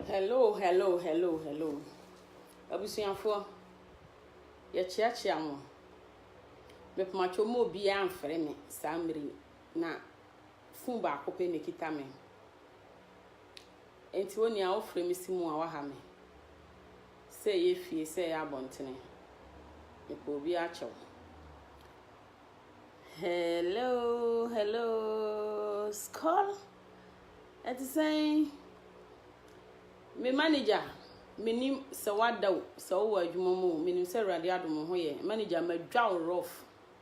hello hello hello hello abusuafoɔ yɛkyeakyea mo mepomatwo mu obiara mfrɛ me saa mmere na fon baako pɛ na ɛkita me Enti onua wofrɛ me si mu a waha me sɛ ɛyɛ fie sɛ ɛyɛ abɔntene mepɛ obi akyɛw Hello hello Skol ɛte sɛn me manager menim sɛ wada o sɛ wowɔ adwuma mu o menim sɛ awurade adom ho yɛ manager madwa wo rough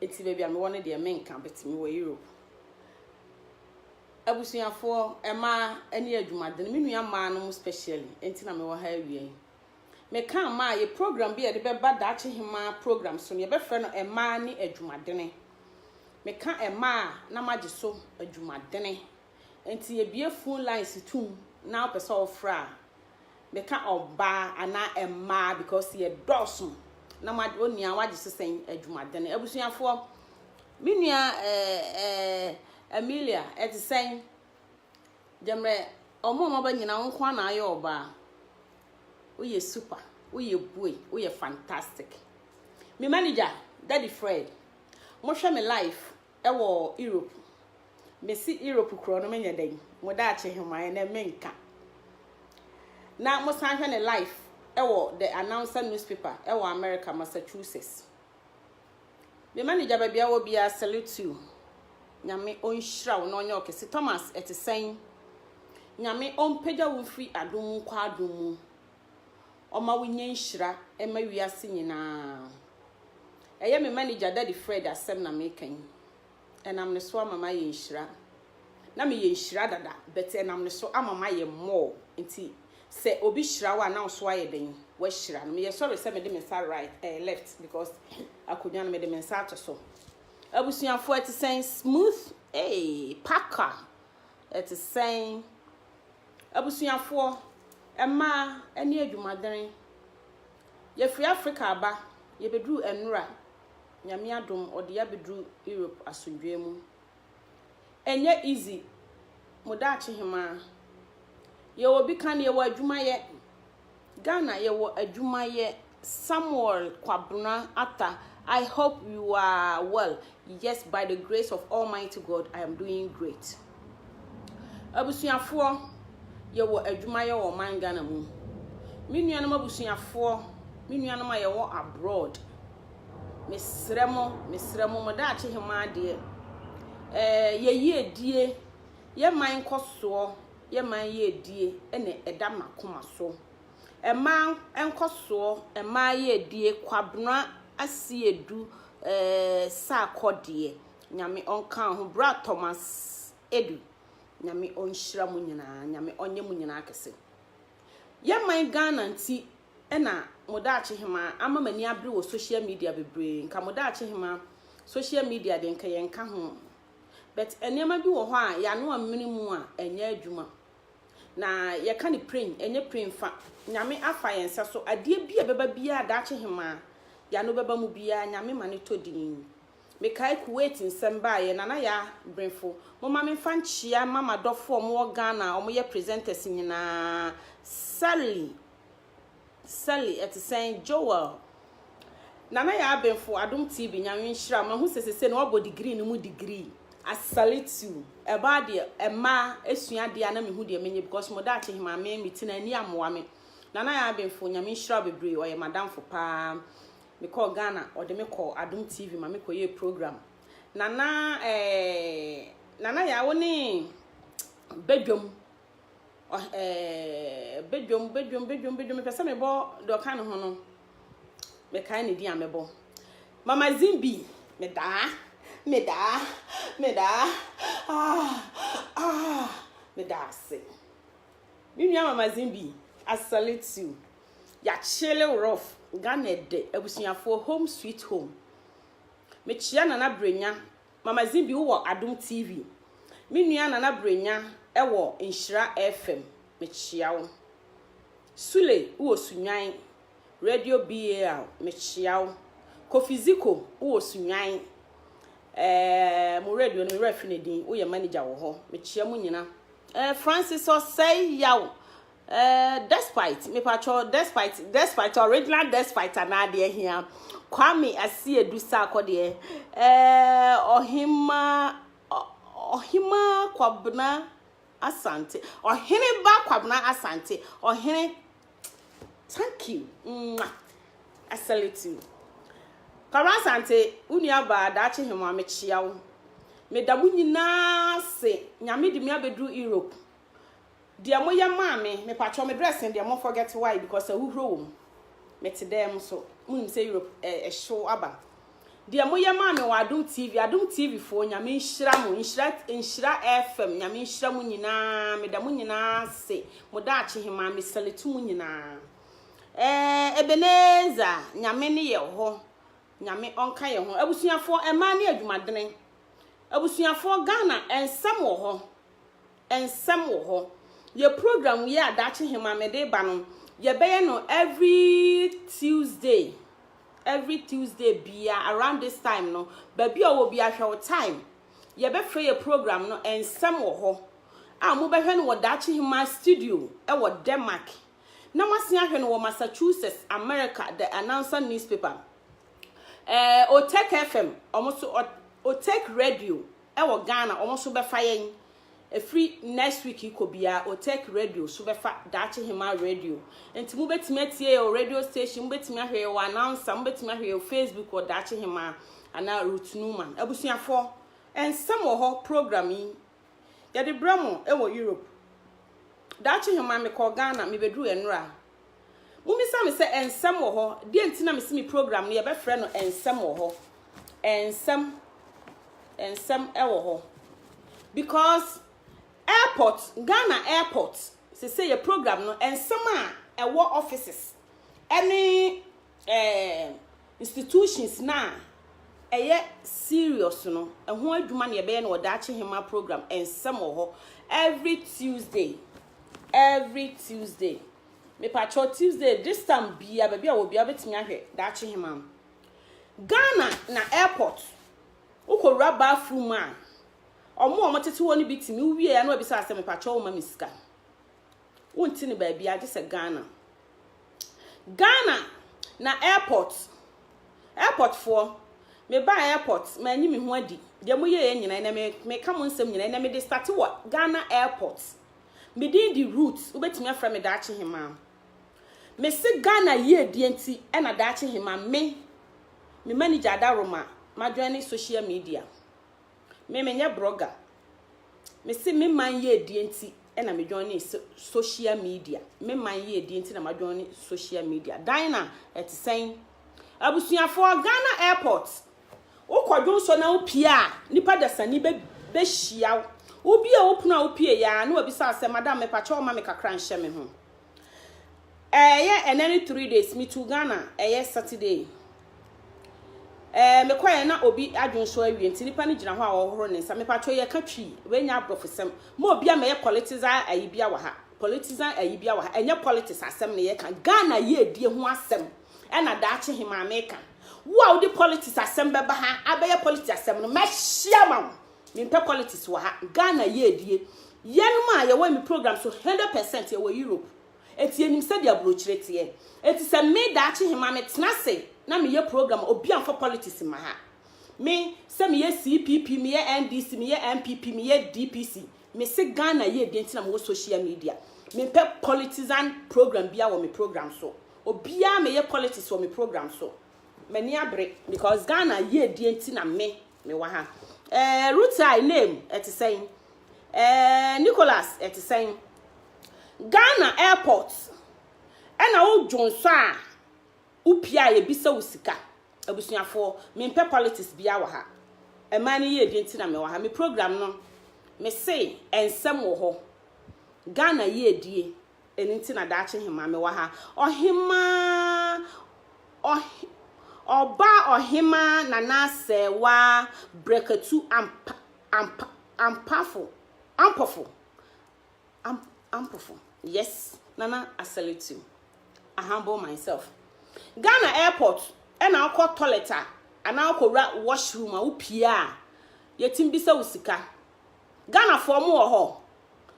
Nti baabi a mewɔ no deɛ menka but mewɔ Europe. Abusuafoɔ, mmaa ɛne adwumaden, me nua mmaa no mu specially, nti na mewɔ ha awia yi. Meka mmaa yɛ program bi a yɛde bɛba Daakye Hemaa program so no, yɛbɛfrɛ no mmaa ne adwumadene. Meka mmaa na magye so adwumadene. Enti yɛbue phone lines tum na wopɛ sɛ wofrɛ a, meka ɔbaa anaa mmaa because yɛdɔɔso na mo ade onua wagye so sɛn adwumaden. Abusuafoɔ, me nua ɛɛ ɛɛ Amelia ɛte sɛn? Gyɛmrɛ ɔmo a wɔaba nyinaa wo nko ara na ayɛ ɔbaa. Woyɛ super, woyɛ bue, woyɛ fantastic. Me manager, Daddy Fred, mohwɛ me life wɔ Europe mesi Europe korɔ no menyɛ dɛn mo daakye hemaɛ nɛ menka na mo san hwɛ ne life wɔ the announcer newspaper wɔ America Massachusetts me manager baabi a wɔ biara salute you nyame ɔnhyira wo na ɔnyɛ ɔkɛse Thomas ɛte sɛn nyame ɔmpagya wo mfiri adom mu nkɔ adom mu ɔma wonya nhyira ma wiase nyinaa. Ɛyɛ me manager Daddy Fred asɛm na meka yi. Ɛnam ne so ama mayɛ nhyira. Na meyɛ nhyira dada, but ɛnam ne so ama mayɛ more. Nti sɛ obi hyira wo a, na wo nso ayɛ dɛn? Woahyira no. Meyɛ sorry sɛ mede me nsa right, eh, left because akonnwa no mede me nsa ato so. Abusuafoɔ ɛte sɛn? Smooth, hey, packer, ɛte sɛn? Abusuafoɔ, mmaa ne adwumadene. Yɛfiri Africa aba, yɛbɛduru Anura, Nyame adom ɔde yɛ abɛduru Europe asomdwoeɛ mu. Ɛnyɛ easy, mo daakye hemaa. Yɛwɔ bi ka no, yɛwɔ adwuma yɛ. Ghana yɛwɔ adwuma yɛ samuel kwabena ata I hope you are well yes by the grace of almighty God I am doing great abusuafoɔ yɛwɔ adwuma yɛ wɔ man Ghana mu me nuanom abusuafoɔ me nuanom a yɛwɔ abroad mesrɛ mo mesrɛ mo mo daakye hemaa deɛ ɛɛ yɛyie die yɛ man kɔsoɔ yɛ man yɛ adie ɛne ɛda makoma so ɛmaa nkɔsoɔ ɛmaa yɛ adie kwabena asiedu eh, saakɔ deɛ nyame ɔnka ho bra thomas edu nyame ɔnhyira mu nyinaa nyame ɔnyɛ mu nyinaa kɛse yɛ man ghana nti ɛna modaakye hema ama mani abere wɔ social media bebree nka modaakye hema social media de nka yɛnka ho but nneɛma bi wɔ hɔ a yɛano ammene mu a ɛnyɛ adwuma. Na yɛka no pren, ɛnyɛ pren fa. Nyame afa yɛn nsa so. Adeɛ bi a ɛbɛba biara daakye hemaa yɛano bɛba mu biara Nyame ma no tɔ din. Mekae Kuwait nsɛm baeɛ, Nana Yaa Brefo, momma memfa nkyea mma m'adɔfoɔ a wɔwɔ Ghana a wɔyɛ presenters nyinaa, Sally Sally ɛte sɛn? Joel, Nana yɛ abenfo adom TV nyame nhyira wo mahu sɛ sese no wabɔ degree no mu degree. I salute you ɛbaa deɛ ɛmaa ɛsua adeɛ a na mehu deɛ menyɛ because mo daakye hemaa me me tena ani amoa me Nana yɛ abenfo nyame nhyira wo bebree ɔyɛ madamfo paa me kɔɔ Ghana ɔde me kɔɔ adom TV ma me kɔ yɛɛ program Nana ɛɛ Nana yɛ a wo ne badwam ɔh ɛɛɛɛɛ Badwam badwam badwam badwam mepɛ sɛ mebɔ deɛ ɔka ne ho no mekae ne din a mɛbɔ Mama Zimbi medaa medaa medaa ah ah meda ase me nua Mama Zimbi I salute you yɛakyele wo rough Ghana ɛdɛ abusuafoɔ home sweet home mekyea Nana Brenya Mama Zibi wo wɔ adom TV. Me nua Nana Brenya wɔ Nhyira FM mekyea wo. Sule wo wɔ Sunnwan Radio BAL mekyea wo. Kofi Ziko wo wɔ Sunnwan eh mo radio no me werɛ afi ne din wo yɛ manager wɔ hɔ mekyea mo nyina eh Francis Osei Yaw Eh despite mepakyɛw despite despite original despite anaa deɛ hia Kwame Asiedu Sarkɔ deɛ eh ɔhema ɔhema Kwabena Asante ɔhene ba Kwabena Asante ɔhene thank you mwah I salute you Kwabena Asante wo nuabaa daakye hema mekyia wo meda mo nyinaa se nyame de me abɛduru Europe Deɛ mo yɛ maa me mepakyɛw me dress no deɛ mo forget why because ahuhuro wɔ mu me te dan mu so mo nim sɛ Europe eh, ɛhyew aba deɛ mo yɛ maa me wɔ adom tv adom tv foɔ nyame nhyira mo nhyira nhyira fm nyame nhyira mo nyinaa me da mo nyinaa se mo da akye he maa me salitu mo nyinaa eh, ebeneza nyame ne yɛ hɔ nyame ɔnka yɛ ho abusuafoɔ ɛmaa ne adwumadene abusuafoɔ ghana ɛnsɛm wɔ hɔ Nsɛm wɔ hɔ. Yɛ program yi a daakye hema mede reba no, yɛbɛyɛ no every Tuesday. Every Tuesday bia around this time no, baabi a ɔwɔ bia hwɛ wo time. Yɛbɛfrɛ yɛ program no Nsɛm wɔ hɔ a mobɛhwɛ no wɔ daakye hema studio wɔ Denmark. Na moasen ahwɛ no wɔ Massachusetts, America, The Announcer Newspaper. Eh, Otek FM, ɔmo so, Otek Radio, ɛwɔ Ghana ɔmo so bɛfa yɛn ɛfiri next week yi kɔ biara Otek radio so bɛfa Daakye Hemaa radio nti mo bɛtumi atie yɛ wɔ radio station mo bɛtumi ahwɛ yɛ wɔ announcer mo bɛtumi ahwɛ yɛ wɔ Facebook wɔ Daakye Hemaa anaa Ruth Newman abusuafoɔ ɛnsɛm wɔ hɔ program yi yɛde brɛ mo ɛwɔ Europe Daakye Hemaa mekɔɔ Ghana mebɛduru ɛnora Mommisa me sɛ, Nsɛm wɔ hɔ? Deɛ nti na mese me program no yɛbɛfrɛ no Nsɛm wɔ hɔ. Nsɛm, nsɛm wɔ hɔ. Because airport, Ghana airport, sese yɛ program no, nsɛm a ɛwɔ offices ɛne ɛɛm, institutions no a ɛyɛ serious no, ɛho adwuma na yɛbɛyɛ no wɔ daakye hema program nsɛm wɔ hɔ every Tuesday, every Tuesday. Mepakyɛw Tuesday this time bia baabi a wɔ bia wobɛtumi ahwɛ daakye hema no. Ghana na airport wokɔwura bathroom a ɔmo a ɔmo tete hɔ no bi tumi wowie a na wabisa asɛ mepakyɛw woma me sika. wonte no baabiara gye sɛ Ghana. Ghana na airport, airportfoɔ, mebaa airport, manyi me ho adi. Deɛ moyɛeɛ nyina ɛnɛ me, meka mo nsɛm nyina ɛnɛ mede starte wɔ Ghana airport. Me din de Ruth, wobɛtumi afrɛ me Daakye Hemaa. Mese Ghana yiedie nti ɛna Daakye Hemaa me, me manager Ada Roma, madwɛne social media. Me menyɛ brɔga. Mese me man yiedie nti na me joine social media. Me man yiedie nti na ma joine social media. Dina, ɛte sɛn? Abusuafoɔ, Ghana airport. Wokɔ dwonsɔ na wopie a, nipa dasani bɛ bɛhyia wo. Wobie wo pono a wopie ya na wabisa sɛ, madam mepakyɛ ɔma me kakra nhyɛ me ho. Ɛɛ yɛ ɛnɛ ne three days me tu Ghana ɛyɛ Saturday. Ɛɛ me kɔ yɛ na obi adwene so awie nti nipa ne gyina hɔ a ɔhoro ne nsa me patro yɛ ka twi we nya abrofo sɛm mo obi ama yɛ politizan ayi bia wɔ ha politizan ayi bia wɔ ha ɛnyɛ politics asɛm ne yɛ ka Ghana yɛ adie ho asɛm ɛna daakye he maa me ka wo a wode politics asɛm bɛba ha abɛyɛ politics asɛm no mɛhyia ma wo Me mpɛ politics wɔ ha. Ghana yɛ adie. Yɛnom a yɛwɔ me program so hundred percent yɛwɔ Europe. Enti yɛnim sɛdeɛ abrokyire teɛ. Enti sɛ me daakye he ma me tena ase na me yɛ program a obia mfa politics mma ha. Me sɛ me yɛ CPP, me yɛ NDC, me yɛ NPP, me yɛ DPC. Me se Ghana yɛ adie nti na me wɔ social media. Me mpɛ politizan program biaa wɔ me program so. Obia me yɛ politics wɔ me program so. M'ani abere. Because Ghana yɛ adie nti na me Me wɔ ha. Eh, Rutai, Name, ɛte sɛn? Eh, Nicholas, ɛte sɛn? Ghana airport, ɛna wo dwonsɔ a wopie a yɛbisa wo sika. Abusuafoɔ, mempɛ politics biara wɔ ha. Ɛmaa ne yiedie nti na mewɔ ha. Me program no, mese ɛnsɛm wɔ hɔ. Ghana yiedie. Ɛno nti na daakye hemaa mewɔ ha. Ɔhemaa, ɔhe, ɔba ɔhemaa nana asɛewa brekatu ampa, ampa, ampafo, ampofo, am, ampofo. Yes, nana I salute you. I humble myself. Ghana airport, ɛna wokɔ toilet a, anaa wokɔwura washroom a wopie a, yɛtumi bisa wo sika. Ghana foɔ mo wɔ hɔ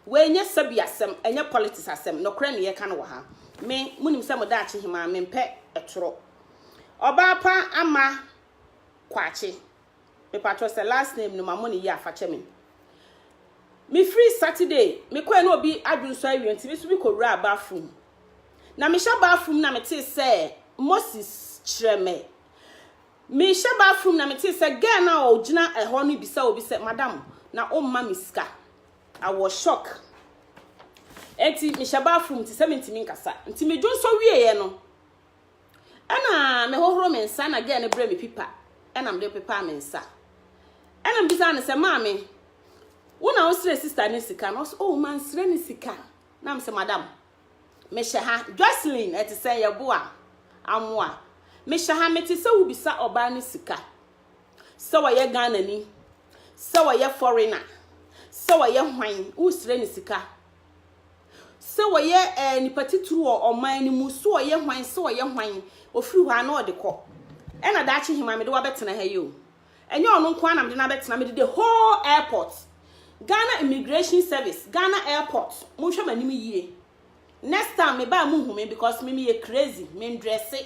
wei nyɛ sabi asɛm ɛnyɛ politics asɛm nɔkorɛ na yɛka no wɔ ha me mo nim sɛ mo daakye hemaa me mpɛ ɛtorɔ ɔbaa pa ama kwaakye me patrɔ sɛ last name no ma mo ne yie a fakyɛ me me free Saturday me kɔɛ na obi adwo nso awie nti me so bi kɔ wura a bathroom na me hyɛ bathroom na me te sɛ Moses kyerɛ me Mehyɛ bathroom na metee sɛ girl no a ɔgyina ɛhɔ no bisa obi sɛ, Madam, na womma me sika? I was shock. Enti mehyɛ bathroom nti sɛ mentumi nkasa. Nti medwonsɔ wieeɛ no, ɛna mehohoro me nsa na girl no brɛ me pipa ɛna mede pepaa me nsa. Ɛna mbisaa no sɛ, Maame, wo na wosrɛ sister no sika no? Ɔse, oh, mansrɛ no sika. Na mesɛ, Madam, Mehyɛ ha. Jocelyn, ɛte sɛn? Yɛboa? Amoa. Mehyɛ ha. Mete sɛ wobisa ɔbaa no sika. Sɛ ɔyɛ Ghanani. Sɛ ɔyɛ foreigner. Sɛ ɔyɛ hwan. Wosrɛ no sika. Sɛ ɔyɛ eh, nipa titiri wɔ ɔman no mu. Sɛ ɔyɛ hwan. Sɛ ɔyɛ hwan. Ofiri hɔ a na ɔde kɔ. Ɛna daakye hema mede wabɛtena ha yi o. Ɛnyɛ ɔno nko ara na mede no abɛtena, mede the whole airport, Ghana Immigration Service, Ghana airport, monhwɛ m'anim yie. Next time meba a monhu me because me meyɛ crazy, mendrɛse,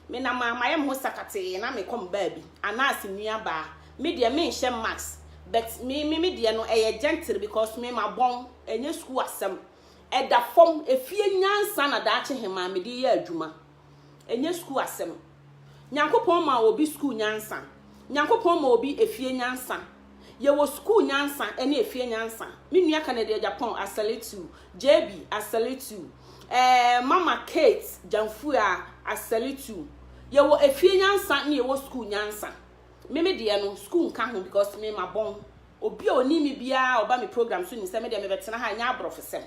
menam a mayɛ me ho sakatee na mekɔ me baabi, anaase nuabaa, me deɛ menhyɛ mask, but me me me deɛ no ɛyɛ gentle because me mabɔn, ɛnyɛ sukuu asɛm. Ɛda fam, efie nyansa na daakye hemaa mede yɛ adwuma. Ɛnyɛ sukuu asɛm. Nyankopɔn maa obi sukuu nyansa. Nyankopɔn ma obi efie nyansa. Yɛwɔ sukuu nyansa ɛne efie nyansa. Me nua Kennedy Agyapong, I salute you. JB, I salute you. Ɛɛ, Mama Kate Gyamfua, I salute you. Yɛwɔ efie nyansa ne yɛwɔ sukuu nyansa. Me me deɛ no, sukuu nka ho because me ma bɔn. Obi a ɔnim me biara ɔba me program so nim sɛ me deɛ mebɛtena ha ɛnyɛ aborɔfosɛm.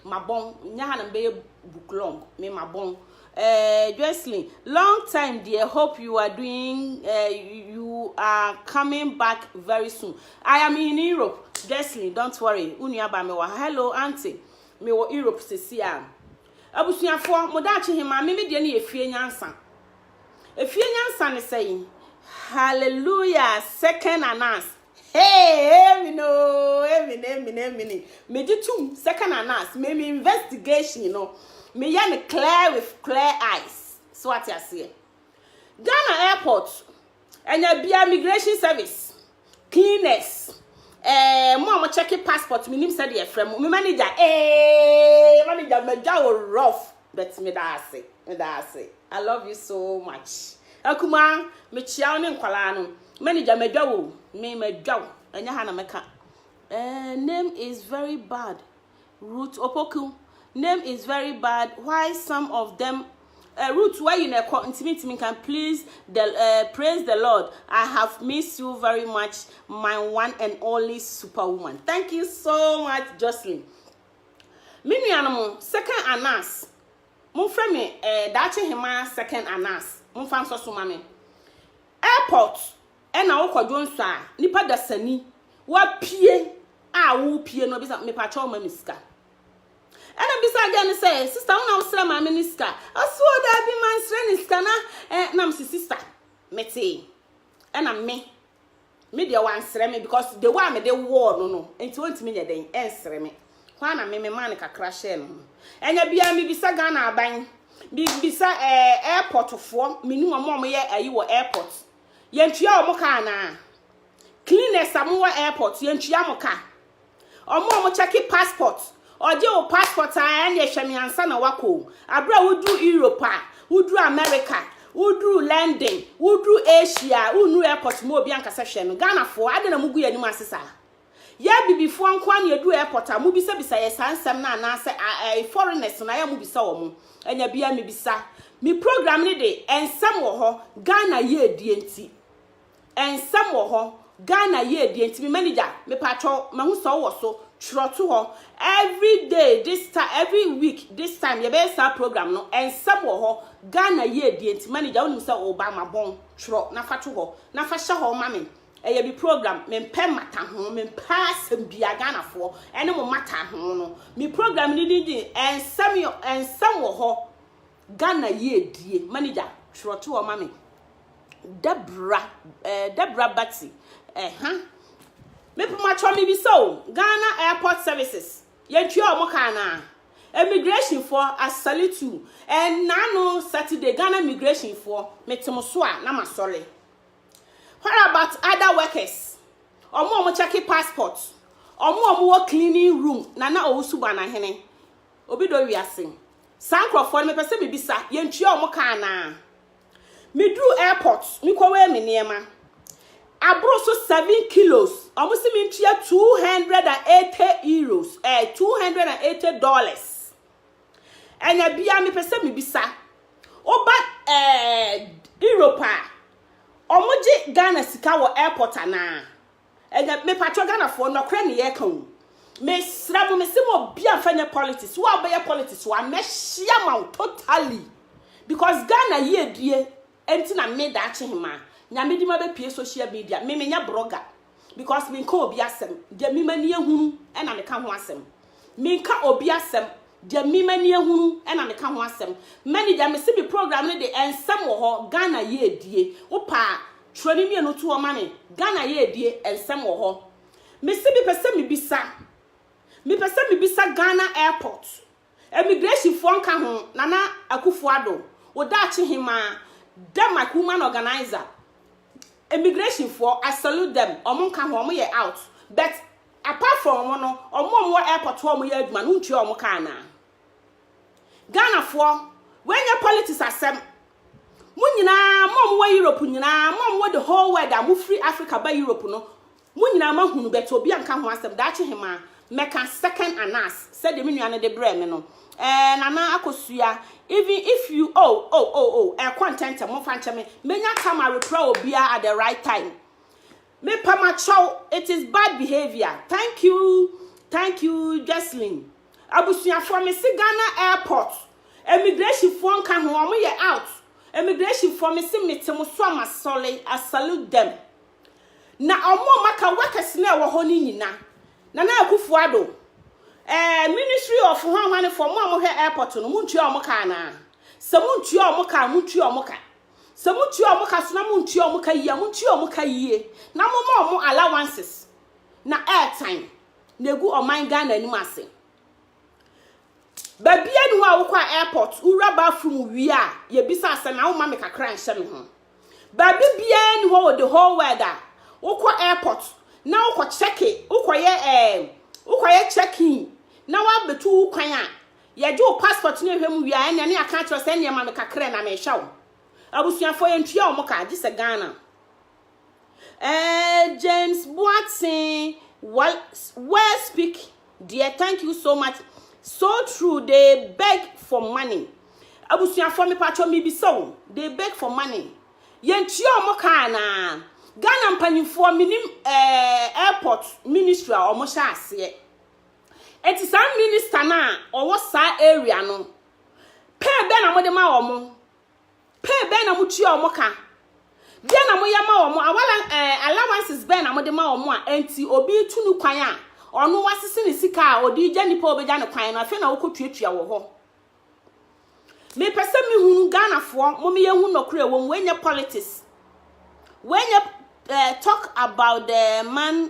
mabɔn nyɛ ha na mebɛyɛ book long me mabɔn eh, Jocelyn long time dear hope you are doing uh, you are coming back very soon I am in Europe Jocelyn don't worry unua ba me wɔ ha hello auntie me wɔ Europe sisi a abusuafoɔ mo daakye he maame me deɛ ne yɛ fie nyansa efie nyansa ne sɛ yi hallelujah second announce Hey, amen oh, amen, amen, amen. Me gye tum second anas, me me investigation you know. Me yɛ ne clear with clear eyes. So ate aseɛ. Ghana airport, ɛnya bia migration service, cleaners, eh, mo a mo check passport, me nim sɛ deɛ frɛ mo, me manager, eh, manager, manager, oh, rough. But meda ase meda ase I love you so much akumaa mekyia wo ne nkwalaa no manager madwa wo me madwa wo ɛnyɛ ha na mɛka eh, name is very bad root opoku name is very bad why some of them uh, root where you neko ntimi ntimi can please the uh, praise the lord i have missed you very much my one and only superwoman thank you so much jocelyn Me nuanom, Second Anas, momfrɛ me eh, Daakye Hemaa Second Anas, momfa nsɔ so ma me. Airport ɛna wokɔ dwonsɔ a, nipa dasani, wapie a wopie no, bisa mepakyɛw ma me sika. Ɛna bisa agya no sɛ, sista wo na wosrɛ maame ne sika? Ɔse o daabi mansrɛ ne sika na eh, nam se sista, metee. Ɛna me, Me deɛ wansrɛ me because the way a mede wɔɔ no no nti ɔntumi nyɛ dɛn ɛnsrɛ me hɔ a na me memaa no kakra hyɛɛ no ho ɛnyɛ biara mebisa Ghana aban mebisa ɛɛ eh, airport foɔ menim ɔmo ɔmo yɛ ayi wɔ airport yɛntua ɔmo ka anaa cleaners a mo wɔ airport yɛntua mo ka Ɔmo a ɔmo kyɛke passport, ɔgye wo passport a ɛneɛ hwɛ me ansa na wakɔ o. Aberɛ a woduru Europe a, woduru America, woduru London, woduru Asia a, wonnuru airport ma obi anka sɛ hwɛ no. Ghanafoɔ, adɛn na mogu yɛn anim ase saa? Yɛ Abibifoɔ nko ara na yɛduru airport a, mobisabisa yɛn saa nsɛm no anaasɛ ɛɛ foreigners no ayɛ a mobisa wɔn? Anya biara mebisa. Me program no de, nsɛm wɔ hɔ, Ghana yiedie nti. Nsɛm wɔ hɔ Ghana yie deɛ nti me manager mepaatwɔ mahu sɛ wowɔ so twerɛ to hɔ every day this time every week this time yɛbɛyɛ saa program no nsɛm wɔ hɔ Ghana yie deɛ nti manager wonim sɛ woba mabɔn twerɛ na fa to hɔ na fa hyɛ hɔ ma me ɛyɛ bi program mempɛ mmata ho mempɛ asɛm bia Ghanafoɔ ɛne mo mmata ho no me program no din din nsɛm nsɛm wɔ hɔ Ghana yiedie manager twerɛ to hɔ ma me Debra eh, Debra Bati eh, ha mepomatwɔ mebisa o Ghana airport services yɛntua ɔmo ka anaa immigration foɔ I salute you ɛnaa no Saturday Ghana immigration foɔ mete mo so a na masɔre what about other workers ɔmo ɔmo check passport ɔmo ɔmo wɔ cleaning room nana owusu banahene Obi dɔ wiase. Saa nkorɔfoɔ no mepɛ sɛ mebisa, yɛntua wɔn ka anaa? Meduru airport, mekɔwɛɛ me nneɛma. Aboro so seven kilos, wɔn se mentua two hundred and eighty euros, eh, two hundred and eighty dollars. Ɛna bia mepɛ sɛ mebisa, woba eh, Europe a, wɔn gye Ghana sika wɔ airport anaa? Ɛnɛ me patrɔ Ghanafoɔ nɔkorɛ ne yɛka o me srɛ mo me se mo obia nfa nyɛ politics wo a wobɛyɛ politics wa mɛ hyia ma wo totally because Ghana yie die ɛnti na me daakye hema nyame dima bɛ pie social media me me nyɛ broga because me nka obi asɛm deɛ me mani ehunu ɛna me ka ho asɛm. Menka obi asɛm, deɛ me m'ani ahunu na meka ho asɛm. Many deɛ mese me program no de nsɛm wɔ hɔ, Ghana yiedie. Wopɛ a twerɛ ne mmienu to hɔ ma me, Ghana yiedie nsɛm wɔ hɔ. Mese mepɛ sɛ mebisa, mepɛ sɛ mebisa Ghana airport, immigration foɔ nka ho, Nana Akufo-Addo, wo daakye hemaa, Denmark woman organizer, immigration foɔ, I salute them, wɔn nka ho, wɔn yɛ out, but Apart from no, wɔn a wɔwɔ airport hɔ a wɔyɛ adwuma no wontua wɔn ka anaa? Ghanafoɔ, wei nyɛ politics asɛm. Mo nyinaa, mo a mowɔ Europe nyinaa, mo a mowɔ the whole world a mofiri Africa ba Europe no, mo nyinaa moahunu bɛtɛ obi a nka ho asɛm daakye hemaa mɛka second anas sɛdeɛ me nua no de brɛɛ me no. Ɛɛ Nana Akosua, even if you oh oh oh oh ɛkɔ ntɛntɛm momfa nkyɛ me, mɛnya time areprɛ obiara at the right time. Mepa makyɛw it is bad behaviour thank you thank you Jocelyn abusuafoɔ mese Ghana airport immigration foɔ nka ho wɔn yɛ out immigration foɔ mese mete mo so a masɔle I salute them na wɔn a maka workers na ɛwɔ hɔ no nyina Nana Akufo Addo ɛɛ eh, ministry of hwanhwanefoɔ mo a mohwɛ airport no montua wɔn ka anaa sɛ montua wɔn ka a montua wɔn ka Sɛ motua wɔn ka so na montua wɔn ka yie a, montua wɔn ka yie na momma wɔn allowances na ɛretan na ɛgu ɔman Ghana anim ase. Baabi ani hɔ a wokɔ a airport, wowura bathroom wie a, yɛbisa asɛm na woma me kakra nhyɛ me ho. Baabi biara ni hɔ wɔ the whole world a wokɔ airport na wokɔ check wokɔyɛ eh, wokɔyɛ check in na wabɛtu wo kwan a Yɛgye wo passport no hwɛ mu wie a, ɛnneɛ ne yɛaka akyerɛ wo sɛ ɛnneɛ ma me kakra na mehwɛ wo. Abusuafoɔ yɛntua wɔn ka, gye sɛ Ghana. Eh, James Boateng, well, well speak dear, thank you so much. So true, they beg for money. Abusuafoɔ mepatwɔ mebisa wo, they beg for money. Yɛntua wɔn ka anaa? Ghana mpanyinfoɔ menim eh, airport ministry a wɔhyɛ aseɛ. Enti saa minister no a ɔwɔ saa area no, pay bɛn na mode ma wɔn? Pay bɛn na motua wɔn ka? Deɛ na moyɛ ma wɔn? Awala eh, allowances bɛn na mode ma wɔn a enti obi retu no kwan a ɔno wasese ne sika a ɔde gya nipa a ɔbɛgya no kwan no afei na wokɔtuatua wɔ hɔ? Mepɛ sɛ mehunu Ghanafoɔ, momeyɛ hu nɔkorɛ wɔ mu, ɛnyɛ politics. Wɛnyɛ uh, eh, talk about the man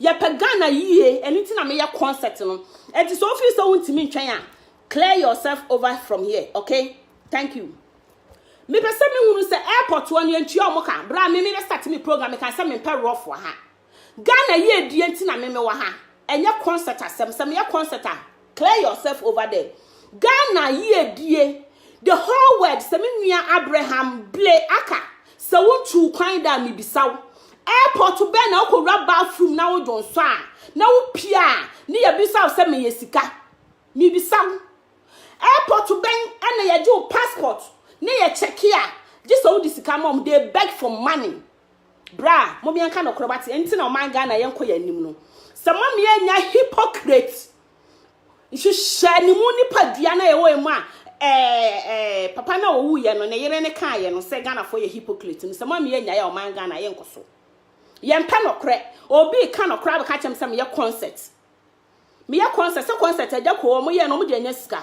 Yɛpɛ Ghana yie, ɛno nti na meyɛ concert no. Ɛnti sɛ wofiri sɛ wontumi ntwɛn a, clear yourself over from here, okay? Thank you. Mepɛ sɛ mehunu sɛ airport hɔ no yɛntua wɔn ka. Berɛ a me mebɛ start me program, meka sɛ mempɛ rough wɔ ha. Ghana yie die nti na me mewɔ ha. Ɛnyɛ concert asɛm. Sɛ meyɛ concert a, Clear yourself over there. Ghana yiedie the whole world sɛ me nua Abraham ble aka sɛ wo ntu wo kwan da a mebisa wo airport bɛn na wokɔ wura bathroom na wo dwonsɔ a na wo pia a ne yɛbisa wo sɛ meyɛ sika mebisa wo airport bɛn ɛna yɛgye wo passport ne yɛ kyɛke a gye sɛ wode sika ma wɔn they beg for money Bra mom yɛn ka nɔkorɛ wate ɛnti na ɔman Ghana yɛn kɔ yɛn anim no sɛ mom yɛn nya hypocrite nhyehyɛ ne mu nipa dua na yɛwɔ yɛn mu a ɛɛ ɛɛ papa na owu yɛ no ne yere ne kaa yɛ no sɛ Ghana fo yɛ hypocrite no sɛ mom yɛn nya yɛ ɔman Ghana yɛn kɔ so yɛn pɛ nɔkorɛ obi ka nɔkorɛ abɛka kyɛm sɛ meyɛ concert Me yɛ concert sɛ concert agya kɔ ɔmo yɛ no ɔmo de anya sika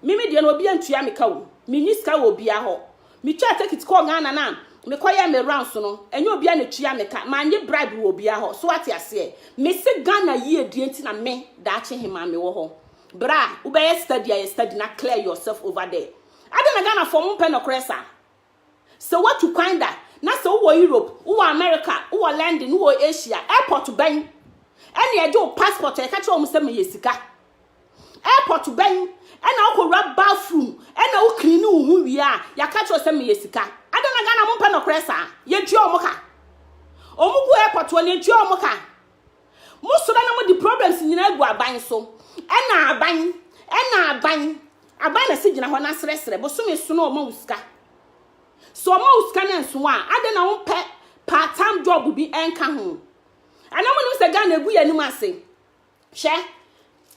me me deɛ no obi antua me ka o me ni sika wɔ obia hɔ me twa tekit kɔ Ghana na me kɔ yɛ me rounds no ɛnyɛ obia na tua me ka ma nye bribe wɔ obia hɔ so ate aseɛ me se Ghana yie die nti na me daakye he ma me wɔ hɔ bra wobɛyɛ study ayɛ study na clear yourself over there adɛn na Ghana fɔ ɔmo mpɛ nɔkorɛ saa Sɛ woatu kwan da na sɛ wowɔ Europe, wowɔ America, wowɔ London, wowɔ Asia, airport bɛn ɛna ɛgye wo passport a ɛka kyerɛ wɔn sɛ meyɛ sika? Airport bɛn ɛna wokɔwura bathroom ɛna wo clean wo ho wie a yɛaka kyerɛ sɛ meyɛ sika? Adɛn na Ghana mompɛ nɔkorɛ saa? Yɛtua wɔn ka. Wɔn gu airport hɔ no yɛtua wɔn ka. Mosɔre na mode problems nyinaa gu aban so. Ɛna aban, ɛna aban. Aban na si gyina hɔ na srɛsrɛ. Bosome so na ɔma wo sika. So ɔma wo sika na nso a, adɛn na wompɛ part time job bi ɛnka ho. Ana monim sɛ Ghana egu yɛn anim ase. Hwɛ,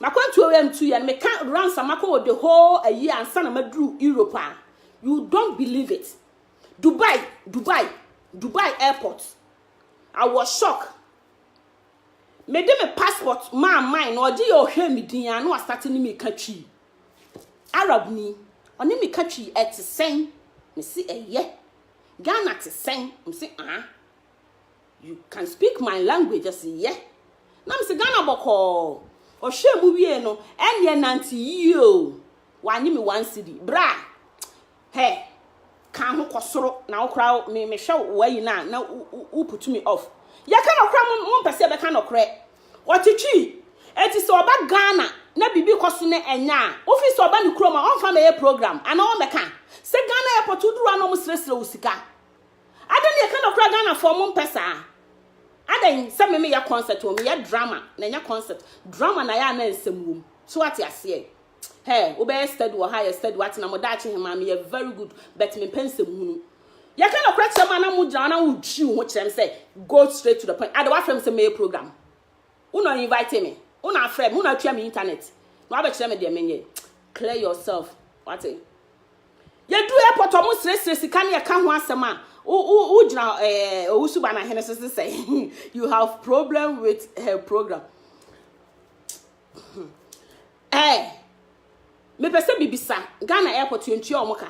makwantuo wei mtu yɛn, meka runs a makɔ wɔ the whole ayi ansa na maduru Europe a. You don't believe it. Dubai, Dubai, Dubai airport. I was shocked. me de me passport maa man na ɔgye yɛ ɔhwɛ me din ano asate ne me ka twii arab ni ɔne me ka twii ɛte sɛn me se ɛyɛ Ghana te sɛn me se ah you can speak my language ɔse yɛ na me se Ghana bɔkɔɔ ɔhwɛ mu wie no ɛneɛ nante yie o wanye me one city bra Hɛ ka ho kɔ soro na wo koraa wo me mehwɛ wo wayi no a na wo wo wo put me off yɛ ka nɔkorɛ mo mo mpɛ sɛ yɛ bɛ ka nɔkorɛ ɔtwitwii eti sɛ ɔba Ghana na bibi kɔ so ne ɛnyɛ a wo fi sɛ ɔba ne kurom a ɔnfa mɛ yɛ program ana ɔmɛ ka sɛ Ghana airport wo duru a na ɔmo srɛ srɛ wo sika adɛn yɛ ka nɔkorɛ Ghana fɔ mo mpɛ saa adɛn sɛ me me yɛ concert o me yɛ drama na ɛnyɛ concert drama na yɛ a na nsɛm wom so ate aseɛ Hɛ, wobɛyɛ steady wɔ ha, ayɛ steady, woatena mo daakye he maa me yɛ very good, but mempɛ nsɛm hunu. Yɛka nɔkorɛ kyerɛ mo a na mogyina hɔ na wotwi wo ho kyerɛ me sɛ go straight to the point. Ade woafrɛ me sɛ mɛyɛ program. Wo na invite me. Wo na afrɛ me. Wo na atua me internet. Na woabɛkyerɛ me deɛ menyɛ. Clear yourself. Wate? Yɛdu airport ɔmo srɛsrɛ sika ne ɛka ho asɛm a wogyina ɛɛ owusuba na hene so sɛ you have problem with her program. Eh, mepɛ sɛ mebisa, Ghana airport yɛntua wɔn ka?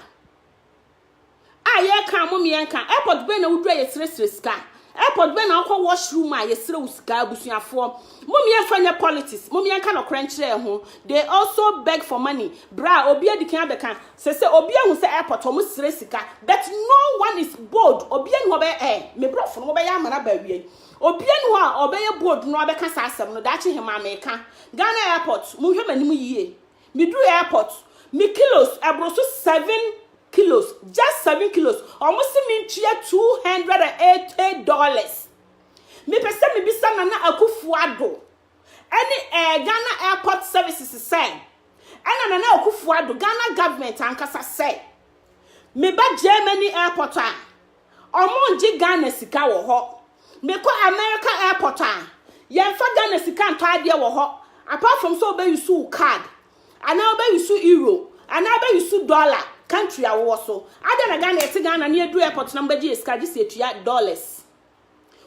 A yɛka mo mmiɛnka, airport bɛn na wodura yɛsrɛsrɛ sika? Airport bɛn na wokɔ washroom a yɛsrɛ wo sika abusuafoɔ? Mo mmiɛnfa nyɛ politics, mo mmiɛnka nɔkorɛ nkyerɛ ho. They also beg for money. Bra, obi adikan abɛka, sɛ sɛ obi ahu sɛ airport wɔn srɛ sika, but no one is bold, obi ani hɔ bɛyɛ eh, me brɔfo no mobɛyɛ amana baawiai. Obiaa nni hɔ a ɔbɛyɛ bold na wabɛka saa asɛm no, daakye hemaa meka. Ghana airport, monhwɛ m'anim yie. Meduruu airport, me kilos ɛboro so seven kilos, just seven kilos, wɔn se mentua two hundred and eighty dollars. Mepɛ sɛ mebisa Nana Akufo-Addo ɛne ɛɛ Ghana airport services sɛ, ɛna Nana Akufo-Addo, Ghana government ankasa sɛ, meba Germany airport a, Ɔmo ngye Ghana sika wɔ hɔ. Me kɔ America airport a, yɛnfa Ghana sika ntɔ adeɛ wɔ hɔ, apart from sɛ wobɛ use wo card, anaa wobɛ use euro, anaa wobɛ use dollar country a wowɔ so. Adɛn na Ghana yɛte Ghana na yɛduru airport na mobɛgye yɛ sika gye sɛ yɛtua dollars.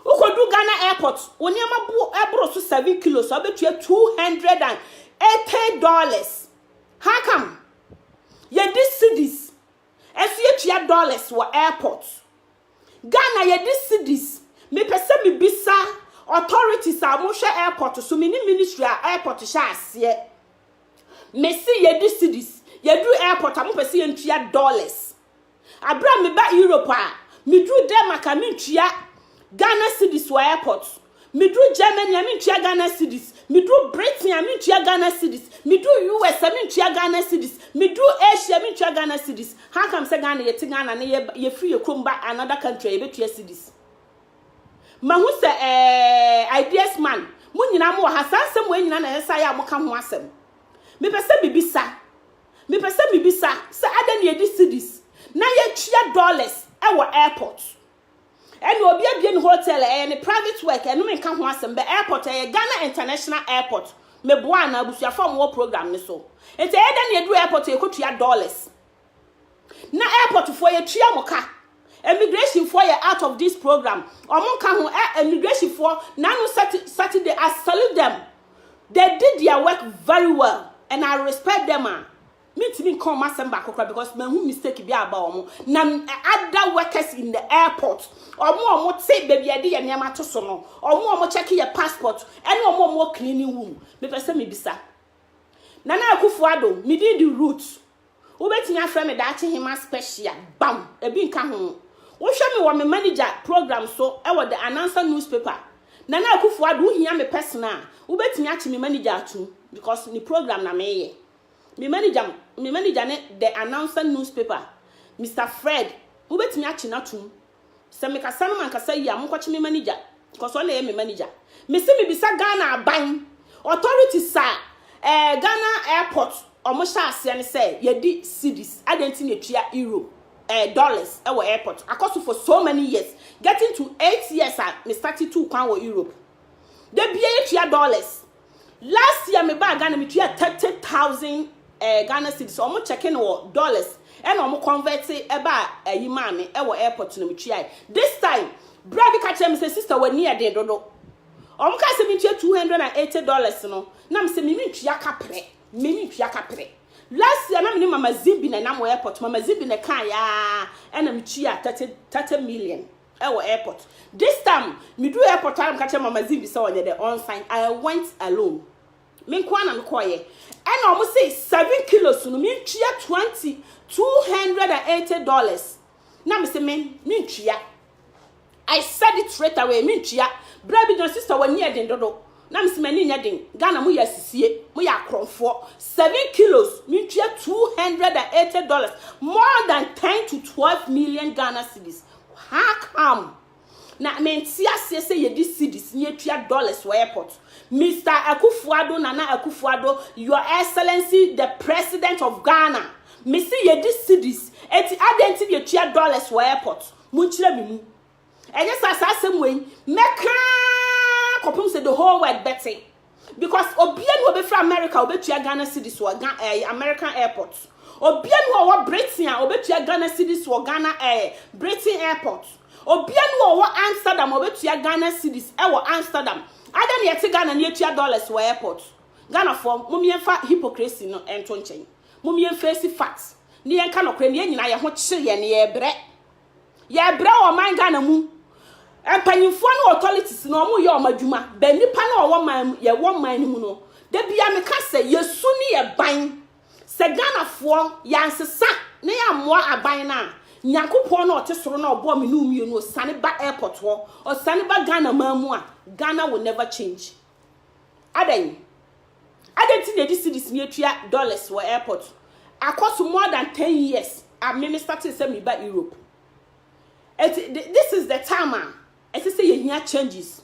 Wokɔduru Ghana airport, wo nneɛma bo ɛboro so seven kilos a wobɛtua two hundred and eighty dollars. How come? Yɛdi cedis. ɛso yɛtua dollars wɔ airport Ghana yɛde cedis mepɛ sɛ mebisa authorities a wɔn hwɛ airport so me ne ministry a airport hyɛ aseɛ mese yɛde cedis yɛduru airport a mopɛ sɛ yɛntua dollars abira meba Europe a meduru Denmark a mentua Ghana cedis wɔ airport Meduru Germany a, mentua Ghana cedis. Meduru Britain a, mentua Ghana cedis. Meduru US a, mentua Ghana cedis. Meduru Asia a, mentua Ghana cedis. How come sɛ Ghana, yɛte Ghana na yɛba, yɛfiri yɛn kurom ba another country a, yɛbɛtua cedis? Mahu sɛ ɛɛ, ideas man, mo nyinaa mowɔ ha, saa nsɛm wei nyinaa na ɛsɛ sɛ ayɛ a moka ho asɛm. Mepɛ sɛ mebisa, mepɛ sɛ mebisa sɛ adɛn na yɛde cedis na yɛtua dollars wɔ airport? Ɛna obi abie ne hotel ɛyɛ ne private work ɛno me nka ho asɛm bɛ airport ɛyɛ Ghana international airport me boa anaa abusuafo a wɔn wɔ program ne so nti ɛyɛ dɛ ne yɛduru airport yɛ kɔ tua dollars na airport foɔ yɛ tua mo ka immigration foɔ yɛ out of this program wɔn nka ho ɛ immigration foɔ nanu Saturday I salute them they did their work very well and I respect them a. Ah. Mentumi nka wɔn asɛm baako koraa because mahu mistake bi aba wɔn na other workers in the airport wɔn a wɔn te baabi a yɛde yɛn nneɛma to so no wɔn a wɔn check yɛ passport ɛne wɔn a wɔn wɔ cleaning room mepɛ sɛ mebisa Nana Akufo-Addo medin di root wobɛtumi afrɛ me daakye hema special bam ebi nka ho wohwɛ me wɔ me manager program so ɛwɔ the announcer newspaper Nana Akufo-Addo wohia me personal wobɛtumi akye me manager atum because ne program na meyɛ Me manigya me manigya ne The Announcer Newspaper, Mister Fred. Mobɛtumi akye no atom. Sɛ mekasa no mankasa yie a, monkɔkye me manigya, cos ɔno na ɛyɛ me manigya. Mese mebisa Ghana aban, authorities a eh, Ghana airport ɔmo hyɛ aseɛ no sɛ yɛdi cedis, adɛn nti na ɛtua euro, eh, dollars wɔ airport? Akɔ so for so many years, getting to eight years a me starte tuu kwan wɔ Europe. Da biaa yɛtua dollars, Last year me baa Ghana me tua thirty thousand eh, Ghana cedis. Ɔmo checking wɔ dollars ɛna ɔmo convert ɛba ɛyi maa me ɛwɔ airport na me tua. This time bra bi ka kyerɛ me sɛ sister w'ani yɛ den dodo. Ɔmo kaa sɛ me ntua two hundred and eighty dollars no na me sɛ me mentua kaprɛ me mentua kaprɛ. Last year na me ne mama Zimbi na ɛnam wɔ airport mama Zimbi na ɛkaa yaa ɛna me tua thirty thirty million. wɔ airport this time me duru airport ara me ka kyerɛ mama zimbi sɛ ɔnyɛ dɛ ɔn sign I went alone me nko ara na me kɔɔyɛ ɛna ɔmo se seven kilos no me ntua twenty two hundred and eighty dollars na me se me me ntua I said it straight away me ntua bra bi gyina sister wɔ ni ɛden dodo na me se m'ani nyɛ den Ghana mo yɛ asisie mo yɛ akorɔmfoɔ seven kilos me ntua two hundred and eighty dollars more than ten to twelve million Ghana cedis How come na mente aseɛ sɛ yɛde cedis ne yɛtua dollars wɔ airport? Mister Akufo-Addo, Nana Akufo-Addo, Your Excellency the President of Ghana, mese yɛde cedis, enti adɛn nti na yɛtua dollars wɔ airport? Monkyerɛ me mu. Ɛnyɛ saa saa asɛm wei mɛka ara kɔpem sɛ the whole world bɛte. Because obia ni hɔ ɔbɛfiri America a ɔbɛtua Ghana cedis wɔ Ga eh, American airport. Obia ni hɔ ɔwɔ Britain a ɔbɛtua Ghana cedis wɔ Ghana eh, Britain airport. Obia ni hɔ ɔwɔ Amsterdam a ɔbɛtua Ghana cedis ɛwɔ Amsterdam. Adɛn na yɛte Ghana na yɛtua dollars wɔ airport? Ghanafoɔ, mom yɛmfa hypocrisy no nto nkyɛn. Mom yɛmfeesi facts na yɛnka nɔkorɛ no. Yɛn nyinaa yɛn ho kye yɛn na yɛbrɛ. Yɛbrɛ wɔ ɔman Ghana mu mpanyinfoɔ ne authorities no ɔmo yɛ ɔmo adwuma bɛ nipa na ɔwɔ man mu yɛ wɔ man no mu no da bia me ka sɛ yɛ su ne yɛ ban sɛ Ghana foɔ yɛ ansesa ne yɛ amoa aban na Nyankopɔn na ɔte soro na ɔbɔ me ne omienu ɔsane ba airport hɔ ɔsane ba Ghana man mu a Ghana will never change. Adɛn? Adɛn nti na yɛde cedis ni atua dollars wɔ airport? Akɔ so more than ten years a me me startee sɛ meba Europe. Eti this is the time a ɛsɛ sɛ yɛhia changes.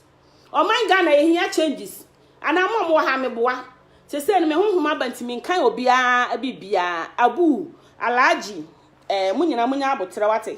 Ɔman Ghana yɛhia changes. Anaa mo a mowɔ ha meboa. Sesei no me honhom aba nti menkan obiara biribiara. Abu, Alhaji, eh, mo nyinaa monya aboterɛ wate.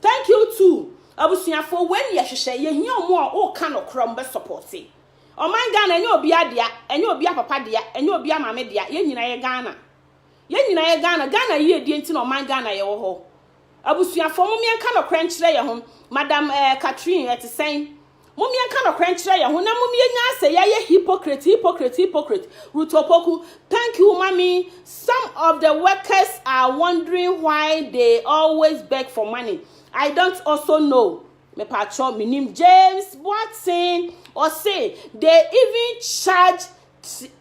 Thank you too abusuafoɔ wei ne yɛhwehwɛ yɛhia ɔmo a woka nokorɛ ɔmo bɛ sɔpɔte ɔman Ghana ɛnyɛ obia dea ɛnyɛ obia papa dea ɛnyɛ obia maame dea yɛn nyina yɛ Ghana yɛn nyina yɛ Ghana Ghana yiedie nti na ɔman Ghana yɛwɔ hɔ abusuafoɔ momyɛnka nokorɛ nkyerɛ yɛn ho madam ɛɛ Catherine ɛte sɛn Mom yɛnka nɔkorɛ nkyerɛ yɛn ho na mom yɛnya asɛ yɛayɛ hypocrite hypocrite hypocrite Ruth Opoku thank you mommy some of the workers are wondering why they always beg for money I don't also know mepaakyɛw menim James Boatsen ɔse they even charge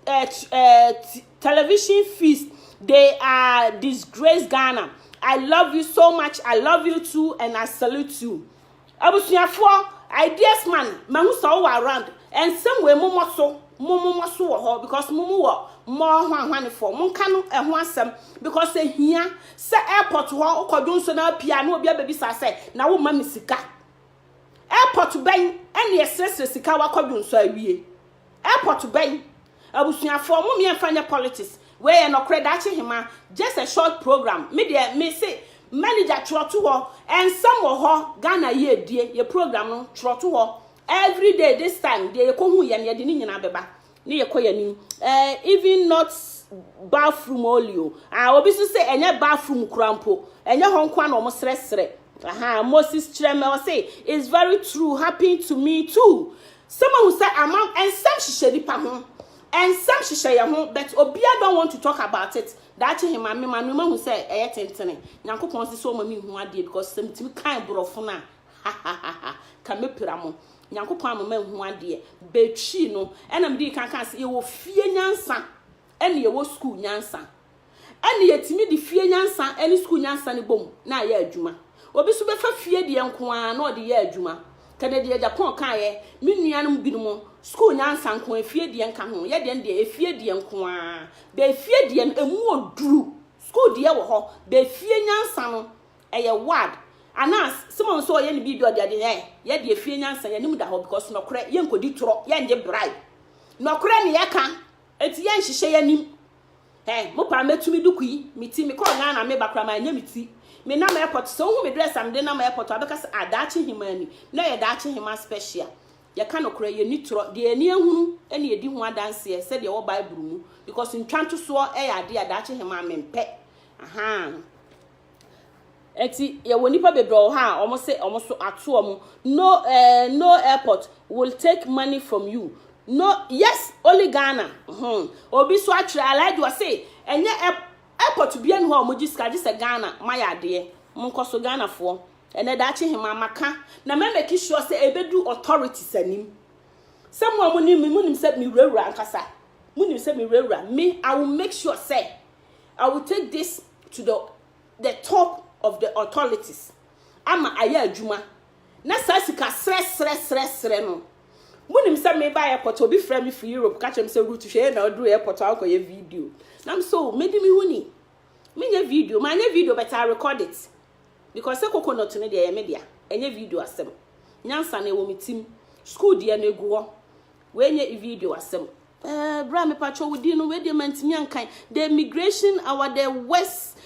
uh, uh, television fees they are disgrace Ghana I love you so much I love you too and I salute you. Abusuafoɔ, ideas man, mahu sɛ wowɔ around, ɛnsɛm wei momɔ so, mo momɔ so wɔ hɔ because mo mu wɔ mmɔɔ hwanhwanefoɔ, monka no ɛho asɛm because ɛhia sɛ airport hɔ wokɔdwo nso na apia na obi abɛbisa sɛ na woma me sika. Airport bɛn ɛne ɛsrɛsrɛ sika wakɔdwo nso awie. Airport bɛn? Abusuafoɔ mo meɛnfa nyɛ politics wei yɛ nɔkorɛ daakye hema just a short program me deɛ me se manager twerɛ to hɔ nsɛm wɔ hɔ Ghana yie die yɛ program no twerɛ to hɔ everyday this time deɛ yɛ kɔhu yɛ no yɛde ne nyinaa bɛba ne yɛ kɔ yɛ nim eh, even not bathroom only o ah, obi so se ɛnyɛ bathroom kura mpo ɛnyɛ hɔ nkoa na ɔmo srɛsrɛ aha Moses kyerɛ mɛ ɔse it's very true happened to me too Sɛ moahu sɛ ama nsɛm hyehyɛ nipa ho nsɛm hyehyɛ yɛn ho but obia don't want to talk about it daakye he ma me ma me mahu sɛ ɛyɛ tentene Nyankopɔn se sɛ ɔma me hu adeɛ because sɛ metumi kan borɔfo no a hahahaha ka mɛpira mo Nyankopɔn ama ma hu adeɛ bɛtwii no ɛna medii kan kaa sɛ yɛwɔ fie nyansa ɛne yɛwɔ school nyansa Ɛnna yɛtumi de fie nyansa ne sukuu nyansa no bom na ayɛ adwuma. Obi nso bɛfa fie deɛ nko ara na ɔde yɛ adwuma. Kɛdɛ deɛ Japan kaeɛ, me nuanom binom, sukuu nyansa nko ara, efie deɛ nka ho. Yɛ deɛn deɛ, efie deɛ nko ara. Bɛ efie deɛ no, emu wɔ duru. Sukuu deɛ wɔ hɔ. Bɛ efie nyansa no, ɛyɛ ward. Anaa sɛma nso ɔyɛ ne biribi ɔde ade yɛ. Yɛ deɛ efie nyansa, yɛnim da hɔ because nɔkorɛ, yɛnkɔdi torɔ, yɛngye bribe. Nɔkorɛ ne yɛka, enti yɛnhyehyɛ yɛnim. Eh mo paa mɛtu me duku yi me ti me kɔɔ Ghana me ba koraa ma nyɛ me ti me nam airport sɛ wo hu me dress a me de nam airport a wobɛka sɛ ah daakye hemaa ni na yɛ daakye hemaa special yɛ ka nokorɛ yɛ ni torɔ deɛ ani ahunu ɛne ɛdi ho adanseɛ sɛdeɛ ɛwɔ bible mu because ntwa ntosoɔ ɛyɛ adeɛ a daakye hemaa me mpɛ ahaa. Ɛnti yɛwɔ nipa bebree wɔ ha a ɔmo se ɔmo so ato ɔmo no eh, no airport will take money from you no yes only Ghana hmm obi so atwerɛ Alhaji ɔse ɛnyɛ airport bia ni hɔ a ɔmo gye sika gye sɛ Ghana ma yɛ adeɛ mo nkɔ so Ghana foɔ ɛnɛ daakye hema maka na mɛ make sure sɛ ebedu authorities anim sɛ mo a mo nim mo nim sɛ me wurawura ankasa mo nim sɛ me wurawura me I will make sure sɛ I will take this to the the top of the authorities ama ayɛ adwuma na saa sika serɛ serɛ serɛ serɛ no mo nim sɛ me ba airport obi frɛ me firi Europe ka kyerɛ me sɛ root hwɛ yɛ na ɔduru airport ankɔ yɛ video nam so oh, medi me ho ni menyɛ video ma nyɛ video but I record it because sɛ coconut no deɛ yɛ me dea ɛnyɛ video asɛm nyansa na ɛwɔ me tim school deɛ no egu hɔ wɔnyɛ video asɛm Eh bra me pacho wo din no we deɛ mantimi ankan the immigration our the west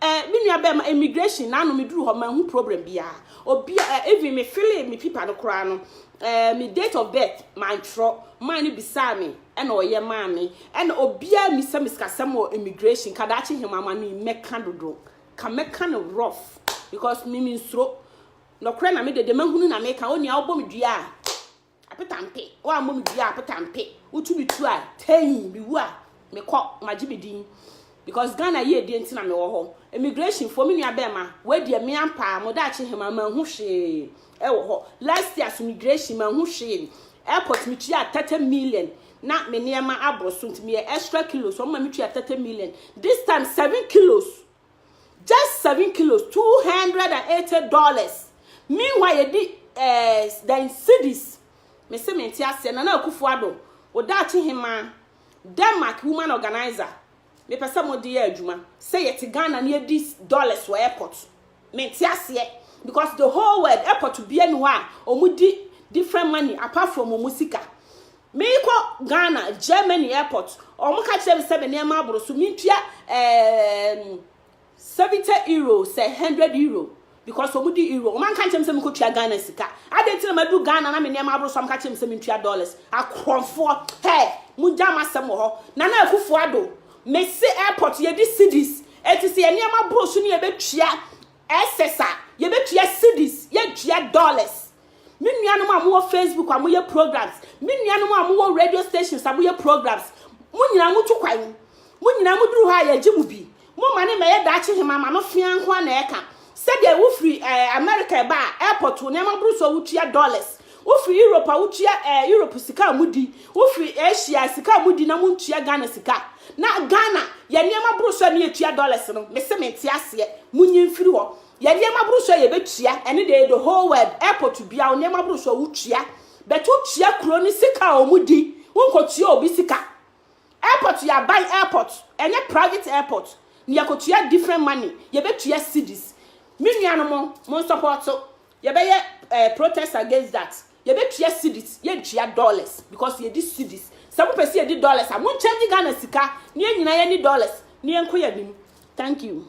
eh me nua bɛɛ ma immigration na no me duru hɔ manhu problem bia obi eh, even me file me pipa no koraa no eh me date of birth mantwerɛ man no bisaa me ɛna ɔyɛ maa me ɛna obia misa me sikasɛm wɔ immigration kadaakye hema ama no mɛka dodo ka mɛka no rough because me me nsuro nɔkorɛ na me dede mahunu na meka onua wobɔ me dua a Apetampe, woammɔ me biaa apetampe Wotu me tu a, tein Mewu a, mekɔ, magye me din Because Ghana yiedie nti na mewɔ hɔ Immigration foɔ, me nua bɛɛma Wei deɛ me ampaa, mo daakye hemaa Manhu hwee wɔ hɔ Last year so migration, manhu hwee Airport metuaa thirty million Na me nneɛma aboro so nti meyɛ extra kilos Wɔma me tua thirty million This time seven kilos just seven kilos two hundred and eighty dollars meanwhile yɛdi ɛɛ eh, dan cedis mese me nte aseɛ nana akufo ado odaakye hema denmark woman organizer mepɛ sɛ mo de yɛ adwuma sɛ yɛte ghana ne yɛdi dollars wɔ airport me nte aseɛ because the whole world airport bia ni hɔ a wɔn di different money apart from wɔn sika Merekɔ Ghana, Germany airport, wɔka kyerɛɛ me sɛ me nneɛma aboro so, mentua um, 70 euro sɛ 100 euro because wɔn di euro wɔn anka nkyɛn mu sɛ mekɔ tua Ghana sika adan ti na madu Ghana na me nneɛma aboro so amka kyɛn mu sɛ mentua dollars akorɔmfoɔ hɛ mo gya ma sɛm wɔ hɔ na na akufo ado me se airport yɛdi cities eti sɛ yɛn nneɛma aboro so ne yɛbɛtua ɛsɛs a yɛbɛtua cities yɛtua dollars Me nuanom a mowɔ Facebook a moyɛ programs, me nuanom a mowɔ radio stations a moyɛ programs, mo nyinaa motu kwan. Mo nyinaa moduru hɔ a yɛgye mo bi. Momma ne mmɛyɛ daakye hema ma no fea nko a na ɛka. Sɛdeɛ wofiri eh, America ɛba a, airport wo nneɛma boro so a wotua dollars. Wofiri Europe a wotua eh, Europe sika a modi. Wofiri Asia sika a modi na montua Ghana sika. Na Ghana, yɛn nneɛma boro so a ne yɛtua dollars no. Mese mente aseɛ. Monyi mfiri hɔ. Yɛ nneɛma boro so a yɛbɛtua, ɛne deɛ the whole world, airport biara wo nneɛma boro so a wotua, but wotua kuro no sika a wɔn di, wonkɔtua obi sika. Airport yɛ aban airport, ɛnyɛ private airport, na yɛkɔtua different money, yɛbɛtua cedis. Me nuanom, monsɔpɔɔto, yɛbɛyɛ eh, protest against that, yɛbɛtua cedis, yɛntua dollars, because yɛdi cedis. Sɛ mopɛ sɛ yɛdi dollars a, monkyɛngye Ghana sika, na yɛn nyinaa yɛnni dollars, na yɛnkɔ yɛn anim. Thank you.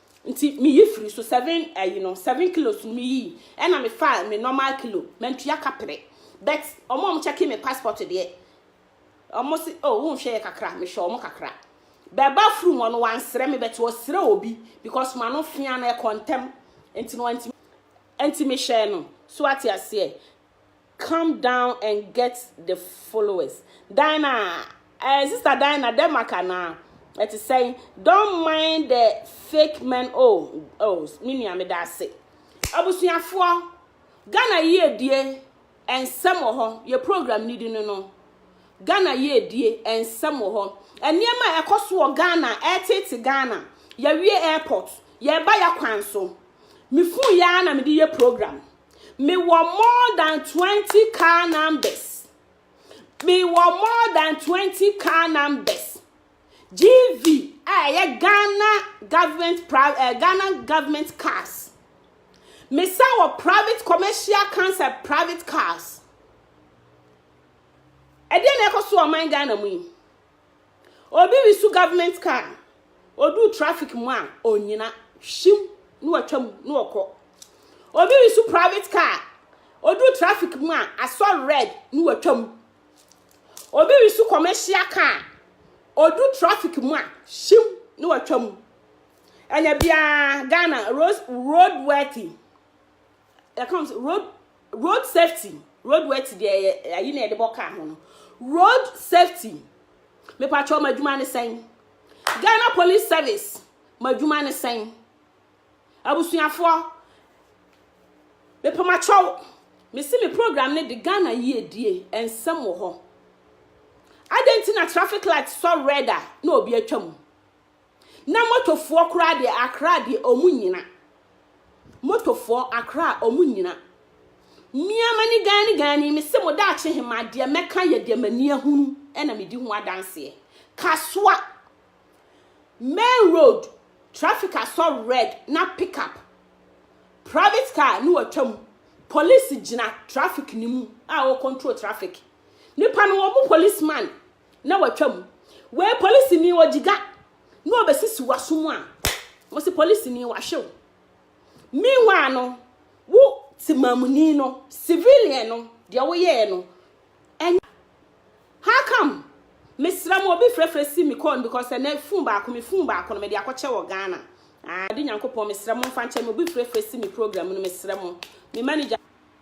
nti me yi firi so seven ayi no seven kilos no me yi ɛna me fa me normal kilo mantua kapere but ɔmo ɔmo checking me passport deɛ ɔmo se oh wo nhwɛ yɛ kakra me hwɛ ɔmo kakra bɛba furu hɔ no wansrɛ me but ɔsrɛ obi because ma no fia no ɛkɔ ntɛm nti no nti nti me hyɛ no so ate aseɛ come down and get the followers Dina eh, sister Dina Denmark anaa ɛte sɛn don't mind the fake men oh oh me nua me da ase abusuafoɔ Ghana yiedie nsɛm wɔ hɔ yɛ program ni di no no Ghana yiedie nsɛm wɔ hɔ nneɛma a ɛkɔ so wɔ Ghana ɛtete Ghana yɛwie airport yɛba yɛ kwan so me fun yɛ na mede yɛ program Mewɔ more than 20 car numbers. Mewɔ more than 20 car numbers. GV a ɛyɛ Ghana government private eh, Ghana government cars. Mesa wɔ private commercial cancer private cars. Ɛdeɛ na ɛkɔ so ɔman Ghana mu yi. Obi resu government car no, ɔduu traffic mu a, ɔnyina, hyim, na watwa mu, na ɔkɔ. Obi resu private car, ɔduu traffic mu a, asɔ red, na watwa mu. Obi resu commercial car, ɔdu traffic mu a, hyim, na watwa mu. Ɛna biara Ghana road worthy, yɛka road Road safety, road wet deɛ yɛ ayi na yɛde bɔ kaa ho no. Road safety, mepatwɔ ma adwuma ne sɛn? Ghana Police Service, ma adwuma ne sɛn? Abusuafoɔ, mepɛ ma kyɛw, mesi me program ne de Ghana yiedie nsɛm wɔ hɔ. Adɛn nti na traffic light sɔ red a na obi atwa mu? Na motor foɔ koraa deɛ Accra deɛ ɔmo nyina. Motor foɔ Accra ɔmo nyina. Mia mani gani gani me se mo daakye hema deɛ mɛka yɛ deɛ mani ahunu ɛna medi ho adanseɛ. Kasoa main road traffic asɔ red na pick up private car ne watwa mu police gyina traffic ne mu a o control traffic. Nipa no wɔn policeman na watwa mu. Wei polisini wɔ gyiga na ɔbɛsisi w'aso mu a, wɔsi polisini wahwe wo. Meanwhile no, wo temamuni no, civilian no, deɛ woyɛɛ no, ɛnyɛ. How come? Mesrɛ mo, obi frɛfrɛ si me call no because ɛnɛ phone baako, me phone baako no, mede akɔkyɛ wɔ Ghana. Ah, de Nyankopɔn, mesrɛ mo mfa nkyɛ me, obi frɛfrɛ si me program no, mesrɛ mo. Me manager.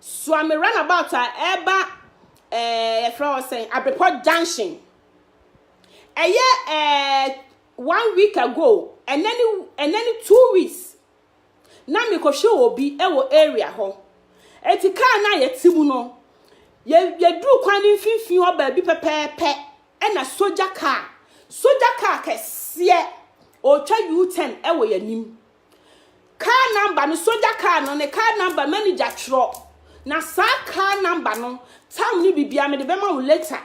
Suame runabout a ɛba ɛɛ yɛfrɛ hɔ sɛn Abepɔ junction. Ɛyɛ ɛɛ one week ago ɛnɛ ne ɛnɛ ne two weeks na mekɔhwɛ obi ɛwɔ area hɔ. Eti kaa no a yɛte mu no yɛ yɛduru kwan ne mfimfini hɔ baabi pɛpɛɛpɛ ɛna sogya kaa sogya kaa kɛseɛ ɔretwa U-turn ɛwɔ yɛn anim. Car number no, sogya car no, ne car number, manager twerɛ. Na saa car number no, time ne biribiara mede bɛma wo later.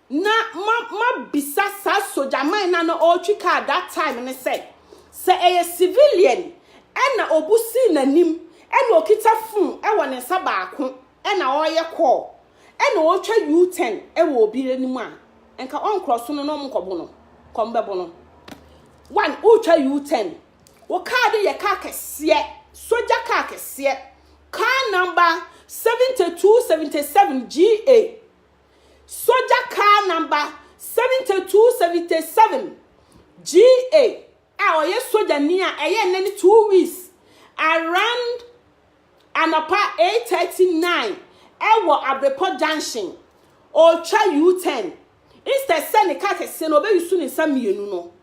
Na ma ma bisa saa sogyaman no a na ɔretwi car that time ne sɛ, sɛ ɛyɛ civilian ɛna obu sii n'anim ɛna okita phone ɛwɔ ne nsa baako na ɔreyɛ kɔɔ na ɔretwa U-turn wɔ obi anim a, nka ɔnkorɔ so no na ɔnkɔbo no, kɔm bɛbo no. One, woretwa U-turn, wo kaa no yɛ kaa kɛseɛ, sogya kaa kɛseɛ, kaa namba 7277 GA, sogya kaa namba 7277 GA a ɔyɛ sogyani a ɛyɛ nnɛ ne two weeks around Anɔpa eight thirty, nine ɛwɔ Abirepɔ junction, ɔretwa U-turn, instead sɛ ne car kɛseɛ no ɔbɛ use ne nsa mmienu no,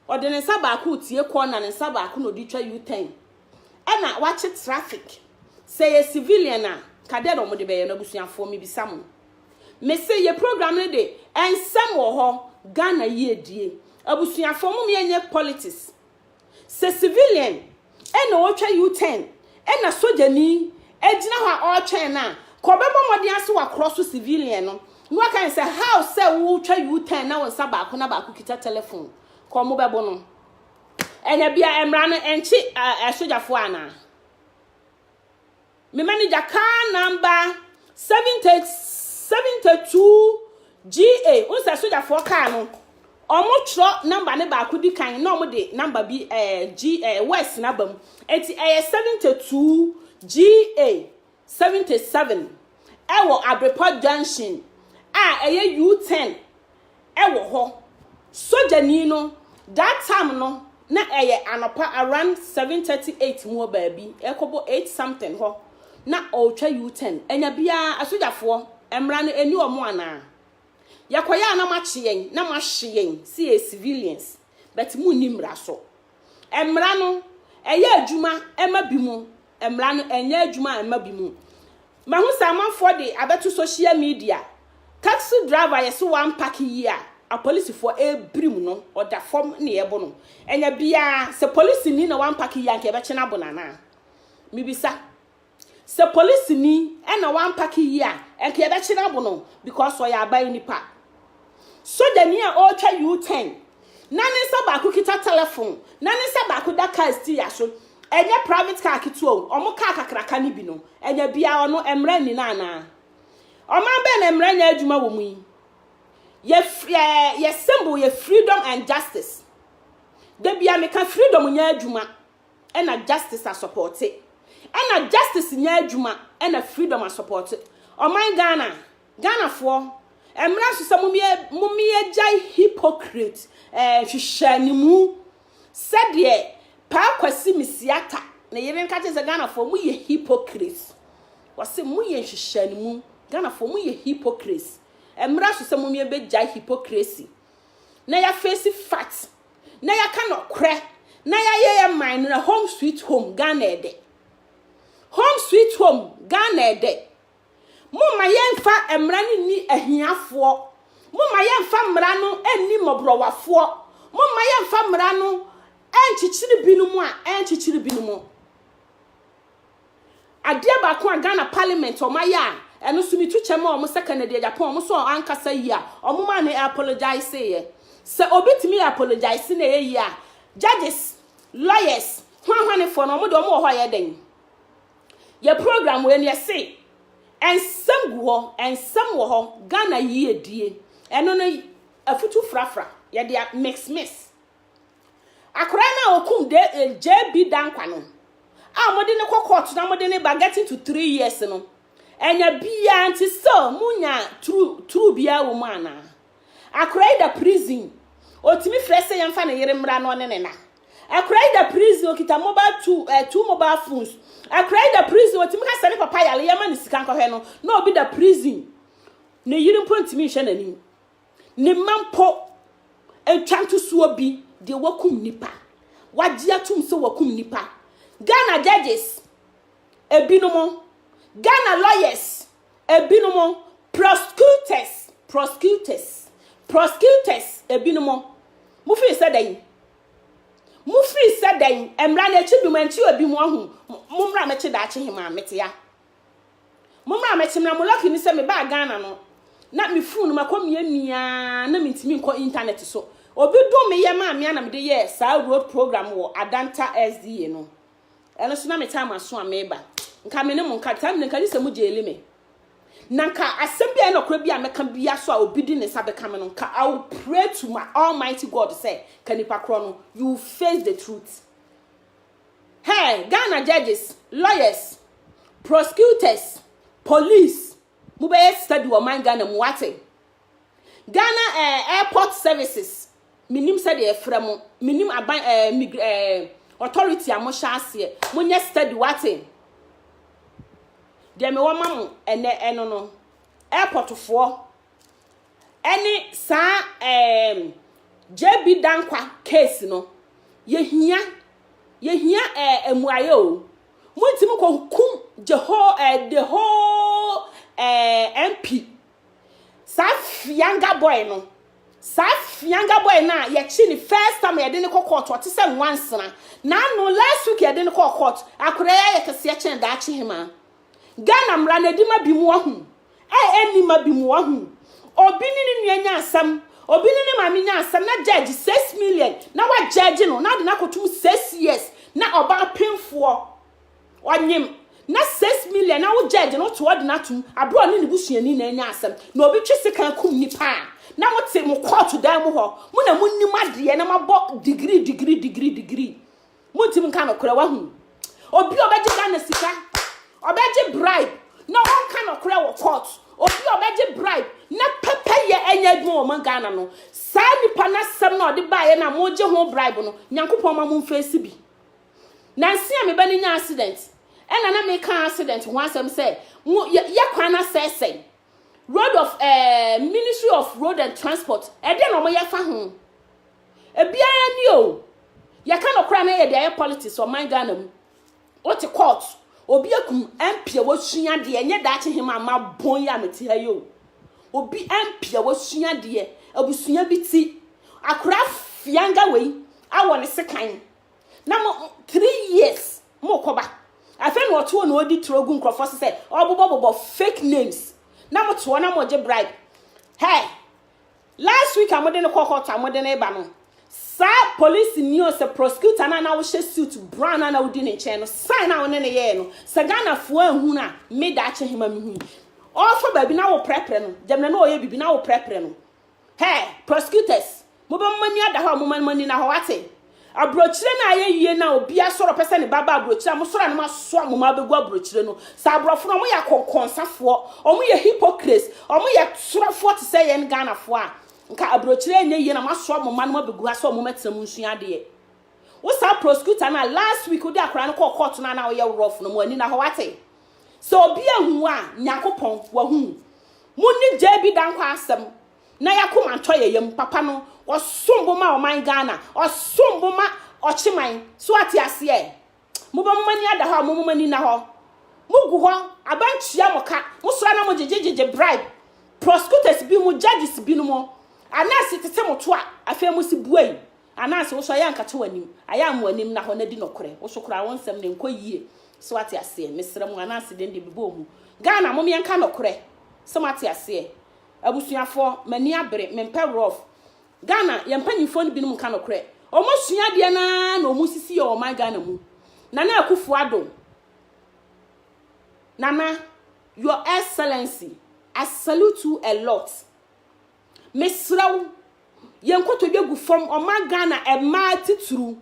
ɔde ne nsa baako retie kɔɔ na ne nsa baako na ɔde retwa U-turn, ɛna wakye traffic. Sɛ ɛyɛ civilian a, ka dɛn na wɔde bɛyɛ no abusuafoɔ mebisa mo. Mese yɛ program no de ɛnsɛm wɔ hɔ, Ghana yiedie. Abusuafoɔ mom yɛnyɛ politics. Sɛ civilian na ɔretwa U-turn na sogyani gyina hɔ a ɔretwɛn no a, ka ɔbɛbɔ mmɔden ara sɛ wakorɔ so civilian no na waka no sɛ, how sɛ woretwa U-turn na wo nsa baako na baako kita telephone? Ka wɔbɛbo no. Ɛna bia mmara no ɛnkye asogyafoɔ anaa? Me manager car number seventy seventy two GA. N sɛ sogyafoɔ car no, wɔn twerɛ number ne baako di kan na wɔn de number bi ɛɛ eh, G ɛɛ eh, West na bam. Eti ɛyɛ seventy two GA seventy seven ɛwɔ Abrepɔ junction a ɛyɛ U ten wɔ hɔ. Sogyani no, that time no na ɛyɛ anɔpa around seven thirty eight mu wɔ baabi, ɛrekɔbɔ eight something hɔ na ɔretwa U-turn. Anya biara, asogyafoɔ, mmara no ɛnni wɔn anaa? Yɛkɔyɛ a na moakye yɛn na moahye yɛn sɛ yɛyɛ civilians but monni mmara so. Mmara no, ɛyɛ adwuma ma bi mu. Mmara no, ɛnyɛ adwuma mma bi mu. Mahu sɛ amanfoɔ de abɛto social media. Taxi driver yɛ sɛ wampake yie a, apolisifoɔ rebirim no, ɔda fam na yɛbo no. Ɛnyɛ biara, sɛ polisini na wampake yie a, anka yɛbɛkye no abo no anaa? Mebisa. Sɛ polisini na wampake yie a, anka yɛbɛkye no abo no because ɔyɛ aban nipa. Sogyani a ɔretwa U-turn na ne nsa baako kita tɛlɛfon na ne nsa baako da kaa stiya so, ɛnyɛ private car ketewa o, wɔn kaa kakraka no bi no, ɛnyɛ biara ɔno mmara nni no anaa? Ɔman bɛn na mmara nyɛ adwuma wɔ mu yi? Yɛ, yɛ, yɛ symbol yɛ freedom and justice. Da bia meka freedom nyɛ adwuma, ɛna justice asɔpɔte, ɛna justice nyɛ adwuma ɛna freedom asɔpɔte. Ɔman Ghana, Ghanafoɔ, ɛmmerɛ so sɛ mommyɛgyae hypocrite eh, nhwehwɛanimu sɛdeɛ Paa Kwasi Misiata ne yere nka kyerɛ sɛ Ghanafoɔ moyɛ hypocrite. Wɔse moyɛ nhwehwɛanimu, Ghanafoɔ moyɛ hypocrite. Ɛmmerɛ so sɛ mommyɛbɛgyae hypocrisy. na yɛafeesi fat na yɛaka nɔkorɛ na yɛayɛ yɛ man no na home sweet home Ghana ɛdɛ home sweet home Ghana ɛdɛ momma yɛmfa mmara no nni ahiafoɔ momma yɛmfa mmara no nni mmɔborɔwafoɔ momma yɛmfa mmara no ɛnkyekyere binom a ɛnkyekyere binom Adeɛ baako a Ghana parliament wɔn ayɛ a ɛno nso metu kyɛ ma wɔn sɛ Kennedy Agyapong wɔn nso a ankasa yie a wɔn maa ne apologise yɛ. Sɛ obi tumi yɛ apologise na ɛyɛ yie a judges, lawyers, hwanhwanefoɔ no wɔn deɛ wɔn wɔ hɔ a ɛyɛ dɛn? Yɛ program wei no yɛse ɛnsɛm gu hɔ, ɛnsɛm wɔ hɔ, Ghana yiedie. Ɛno no afutu frafra yɛde a mix mix. Akwadaa no a wɔkum de eh, JB Dankwa no a wɔde no kɔ court na wɔde no ba getting to three years no ɛnya biara nti sɛ monya true true biara wɔ mu anaa akwadaa yi da prison otumi frɛ sɛ yɛmfa ne yere mmra na ɔne ne na akwadaa yi da prison okita mobile two ɛɛ eh, two mobile phones akwadaa yi da prison otumi ka sɛ ne papa yare yɛma ne sika nkɔhwɛ no na obi da prison ne yere mpo ntumi nhwɛ n'anim Ne mma mpo, ɛtwa ntosoɔ bi deɛ wakum nipa. Wagye atom sɛ wakum nipa. Ghana judges, ebinom, Ghana lawyers, ebinom, prosecutors, prosecutors, prosecutors, ebinom, mofiri sɛ dɛn? Mofiri sɛ dɛn? Mmara no akyi bi mu, ɛnte obi mu ahu. Mo mmara mɛkye daakye hemaa metea. Mommra mɛte mmra mo lucky ne sɛ me baa Ghana no na me phone no makɔ mia mia na me ntumi nkɔ internet so obi dom me yɛ maa mea na me de yɛ saa road program wɔ Adanta SDA no ɛno so na me time aso a meba nka me ne mo nka time nka gye sɛ mo gyeli me na nka asɛm bi a ɛna kora bi a mɛka bia so a obi di ne nsa bɛka me no nka I will pray to my almighty God sɛ ka nipa korɔ no you face the truth Hey Ghana judges, lawyers, prosecutors, police mo bɛyɛ study wɔ man Ghana mu wate. Ghana eh, airport services menim sɛdeɛ ɛfrɛ mo menim aban eh, mig, eh, authority a mohyɛ aseɛ monyɛ study wate. Deɛ mewɔ ma mo ɛnɛ ɛno no airportfoɔ ɛne saa ɛɛm JB Dankwa case no, yɛhia, yɛhia ɛɛ mmuaeɛ o. Montumi kɔ kum the whole, ɛɛ the whole ɛɛ MP. Saa fianga boy no, saa fianga boy no a yɛkye ne first time yɛde ne kɔ court ɔte sɛ nwansena. N'ano last week yɛde ne kɔ court, akwadaa yi ayɛ kɛseɛ kyɛn daakye hemaa. Ghana mmara no adi ma bi mu wahu a ɛnni ma bi mu wahu. Obi ne ne nua nya asɛm, obi ne ne maame nya asɛm na gyɛɛgye six million na wagyɛɛgye no na ade no akɔtum six years na ɔbaa pemfoɔ ɔnyem na six million na wogyɛɛgye no wote ɔde no atom aberɛ ɔne ne busuani na anya asɛm na obi twe sekan kum nipa a na mote mo kɔɔto dan mu hɔ mo na monim adeɛ na moabɔ digiri digiri digiri digiri Montim nka nɔkorɛ wahu. Obi ɔbɛgye Ghana sika, ɔbɛgye bribe na ɔnka nɔkorɛ wɔ court. Obi ɔbɛgye bribe na pɛpɛ yɛ ɛnyɛ adwuma wɔ ma Ghana no. Saa nipa no asɛm no a ɔde baeɛ no a mogye ho bribe no, Nyankopɔn ma mo mfeesi bi. Nanse a me ba no nya accident, ɛna na meka accident ho asɛm sɛ mo yɛ, yɛ kwan no asɛesɛe. Road of eh, Ministry of Road and Transport, ɛdeɛ na ɔmo yɛ fa ho. Ebiara ni o. Yɛka no koraa na yɛde ayɛ politics ɔman Ghana mu. Wote court, obi akum MP a wasua deɛ, ɛnyɛ daakye hema ama bɔn yi a mete ha yi o. Obi MP a wasua deɛ, abusua bi ti, akora fianga wei, awɔ ne sekan. Na mo, three years, mo kɔba. Afei na ɔtoɔ na ɔdi turo gu nkurɔfoɔ se sɛ, ɔbobɔbobɔ fake names. Na mo toɔ na mo gye bribe. Hey, Last week a mode no kɔ court a mode no reba no, saa policeni ɔsɛ prosecutor no a na wohyɛ suit brown a na wodi ne nkyɛn no sign a wo ne no yɛɛ no, sɛ Ghanafoɔ anhu no a, me daakye hema mehui. Ɔrefa baabi na woprɛprɛ no, gyamina na ɔreyɛ biribi na woprɛprɛ no. Hɛɛ, prosecutors, mobɛma moani ada hɔ a momma no ani nna hɔ, woate? Aburokyire no ayɛ yie no a obi asɔre ɔpɛ sɛ ne ba ba aburokyire a mosɔre a na moasoa mo mma abɛgu aburokyire no. Saa aborɔfo no wɔyɛ akɔnkɔnsafoɔ, wɔyɛ hypocrites, wɔyɛ torofoɔ te sɛ yɛn Ghanafoɔ a nka aburokyire nyɛ yie na moasoa mo mma no abɛgu ha sɛ wɔmmɛtena mu nsua adeɛ. Wo saa prosecutor no a last week wode akwadaa no kɔɔ court no a na woyɛ rough no mo ani na hɔ wate. Sɛ obi ahu wo a Nyankopɔn wahu wo. Monni JB Dankwa asɛm na y'akoma ntɔ yɛ yam, papa no ɔsom bo ma ɔman Ghana, ɔsom bo ma ɔkyeman, so ate aseɛ? Mobɔ mo mani ada hɔ a, mo mo mani nna hɔ, mo gu hɔ, aba ntua mo ka, mo sɔre na mo gyegye gyegye bribe prosecutors bi mo judges bi no mo, ananse tete mo to a, afei mo se buai, ananse wo so ayɛ ankata w'anim, ayɛ a mo anim nna hɔ na di nɔkorɛ, wo so koraa wo nsɛm no nkɔ yie, so ate aseɛ? Mesrɛ mo, ananse deɛ no deɛ mebɔɔ mu, Ghana mom yɛnka nɔkorɛ, so mo ate aseɛ? Abusuafoɔ, m'ani abere, mempɛ rough. Ghana, yɛn mpanyinfoɔ no binom nka nokorɛ. Wɔasua adeɛ no ara na wɔresisi yɛn wɔ ɔman Ghana mu. Nana Akuffo Addo, Nana, Your Excellency, I salute you a lot. Mesrɛ wo, yɛn nkotodwe agu fam, ɔman Ghana mmaa titiriw,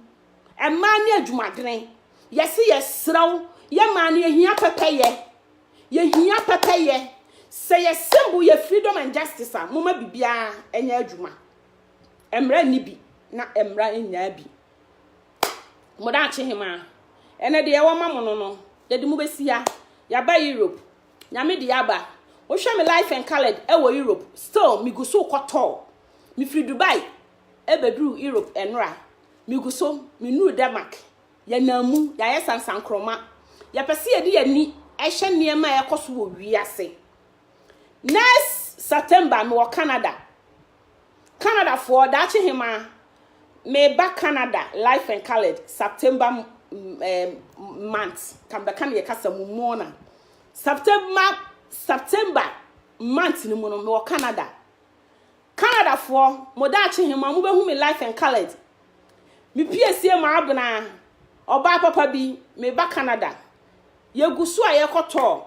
mmaa ne adwumadene. Yɛse yɛsrɛ wo, yɛ mmaa no yɛhia pɛpɛyɛ, yɛhia pɛpɛyɛ. Sɛ yɛ symbol yɛ freedom and justice a, moma biribiara ɛnyɛ adwuma. Mmara nni bi na mmara nyaa bi. Modaakye hemaa, ɛnɛ deɛ yɛwɔ ma mo no no, yɛde mo bɛsi ha, yɛaba Europe, Nyame de aba. Wohwɛ me life and coloured wɔ Europe still me gu so kɔ tɔɔ. Me firi Dubai bɛduru Europe ɛnora. Me gu so me nuru Denmark. Yɛ nam mu yɛayɛ sansankroma. Yɛ pɛ sɛ yɛde yɛn ani hwɛ nneɛma a ɛkɔ so wɔ wiase. Next September me wɔ Canada. Canadafoɔ, daakye hemaa, meba Canada life and coloured September month, ka mebɛka ne yɛ kasa mu mona. September, September month no mu no, mewɔ Canada. Canadafoɔ, mo daakye hemaa, mo bɛhu me life and coloured. Mepiesie ma abena, ɔbaa papa bi, meba Canada. Yɛgu so a yɛkɔtɔ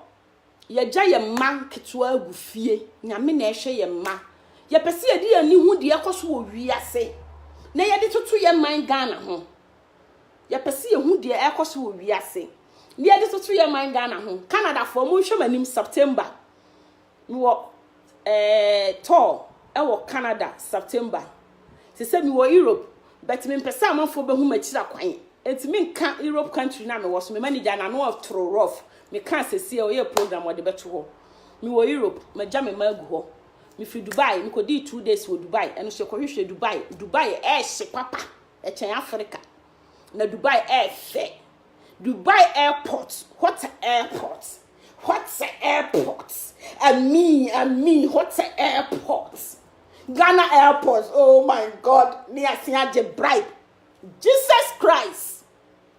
yɛgya yɛn mma nketewa gu fie. Nyame na ɛhwɛ yɛn mma. Yɛpɛ sɛ yɛde yɛn ani hu deɛ ɛkɔ so wɔ wiase na yɛde toto yɛn man Ghana ho. Yɛpɛ sɛ yɛhu deɛ ɛkɔ so wɔ wiase na yɛde toto yɛn man Ghana ho. Canadafoɔ, monhwɛ m'anim September. Mewɔ Ɛɛ tɔɔ ɛwɔ Canada September. Sesɛ me wɔ Europe but me mpɛsɛ amanfoɔ bɛhu makyira kwan enti me nka Europe country na me wɔ so me manager na no toro rough me kaa sɛsiɛ ɔyɛɛ program ɔde bɛto hɔ me wɔ Europe magya me ma agu hɔ me firi Dubai me kɔdii two days wɔ Dubai ɛno so yɛkɔ hwehwɛ Dubai Dubai ɛɛhye papa ɛkyɛn Africa na Dubai ɛɛfɛ Dubai airport what airport. What a airport! I mean, I mean, what a airport! Ghana airport, oh my God, ne asin agye bribe. Jesus Christ!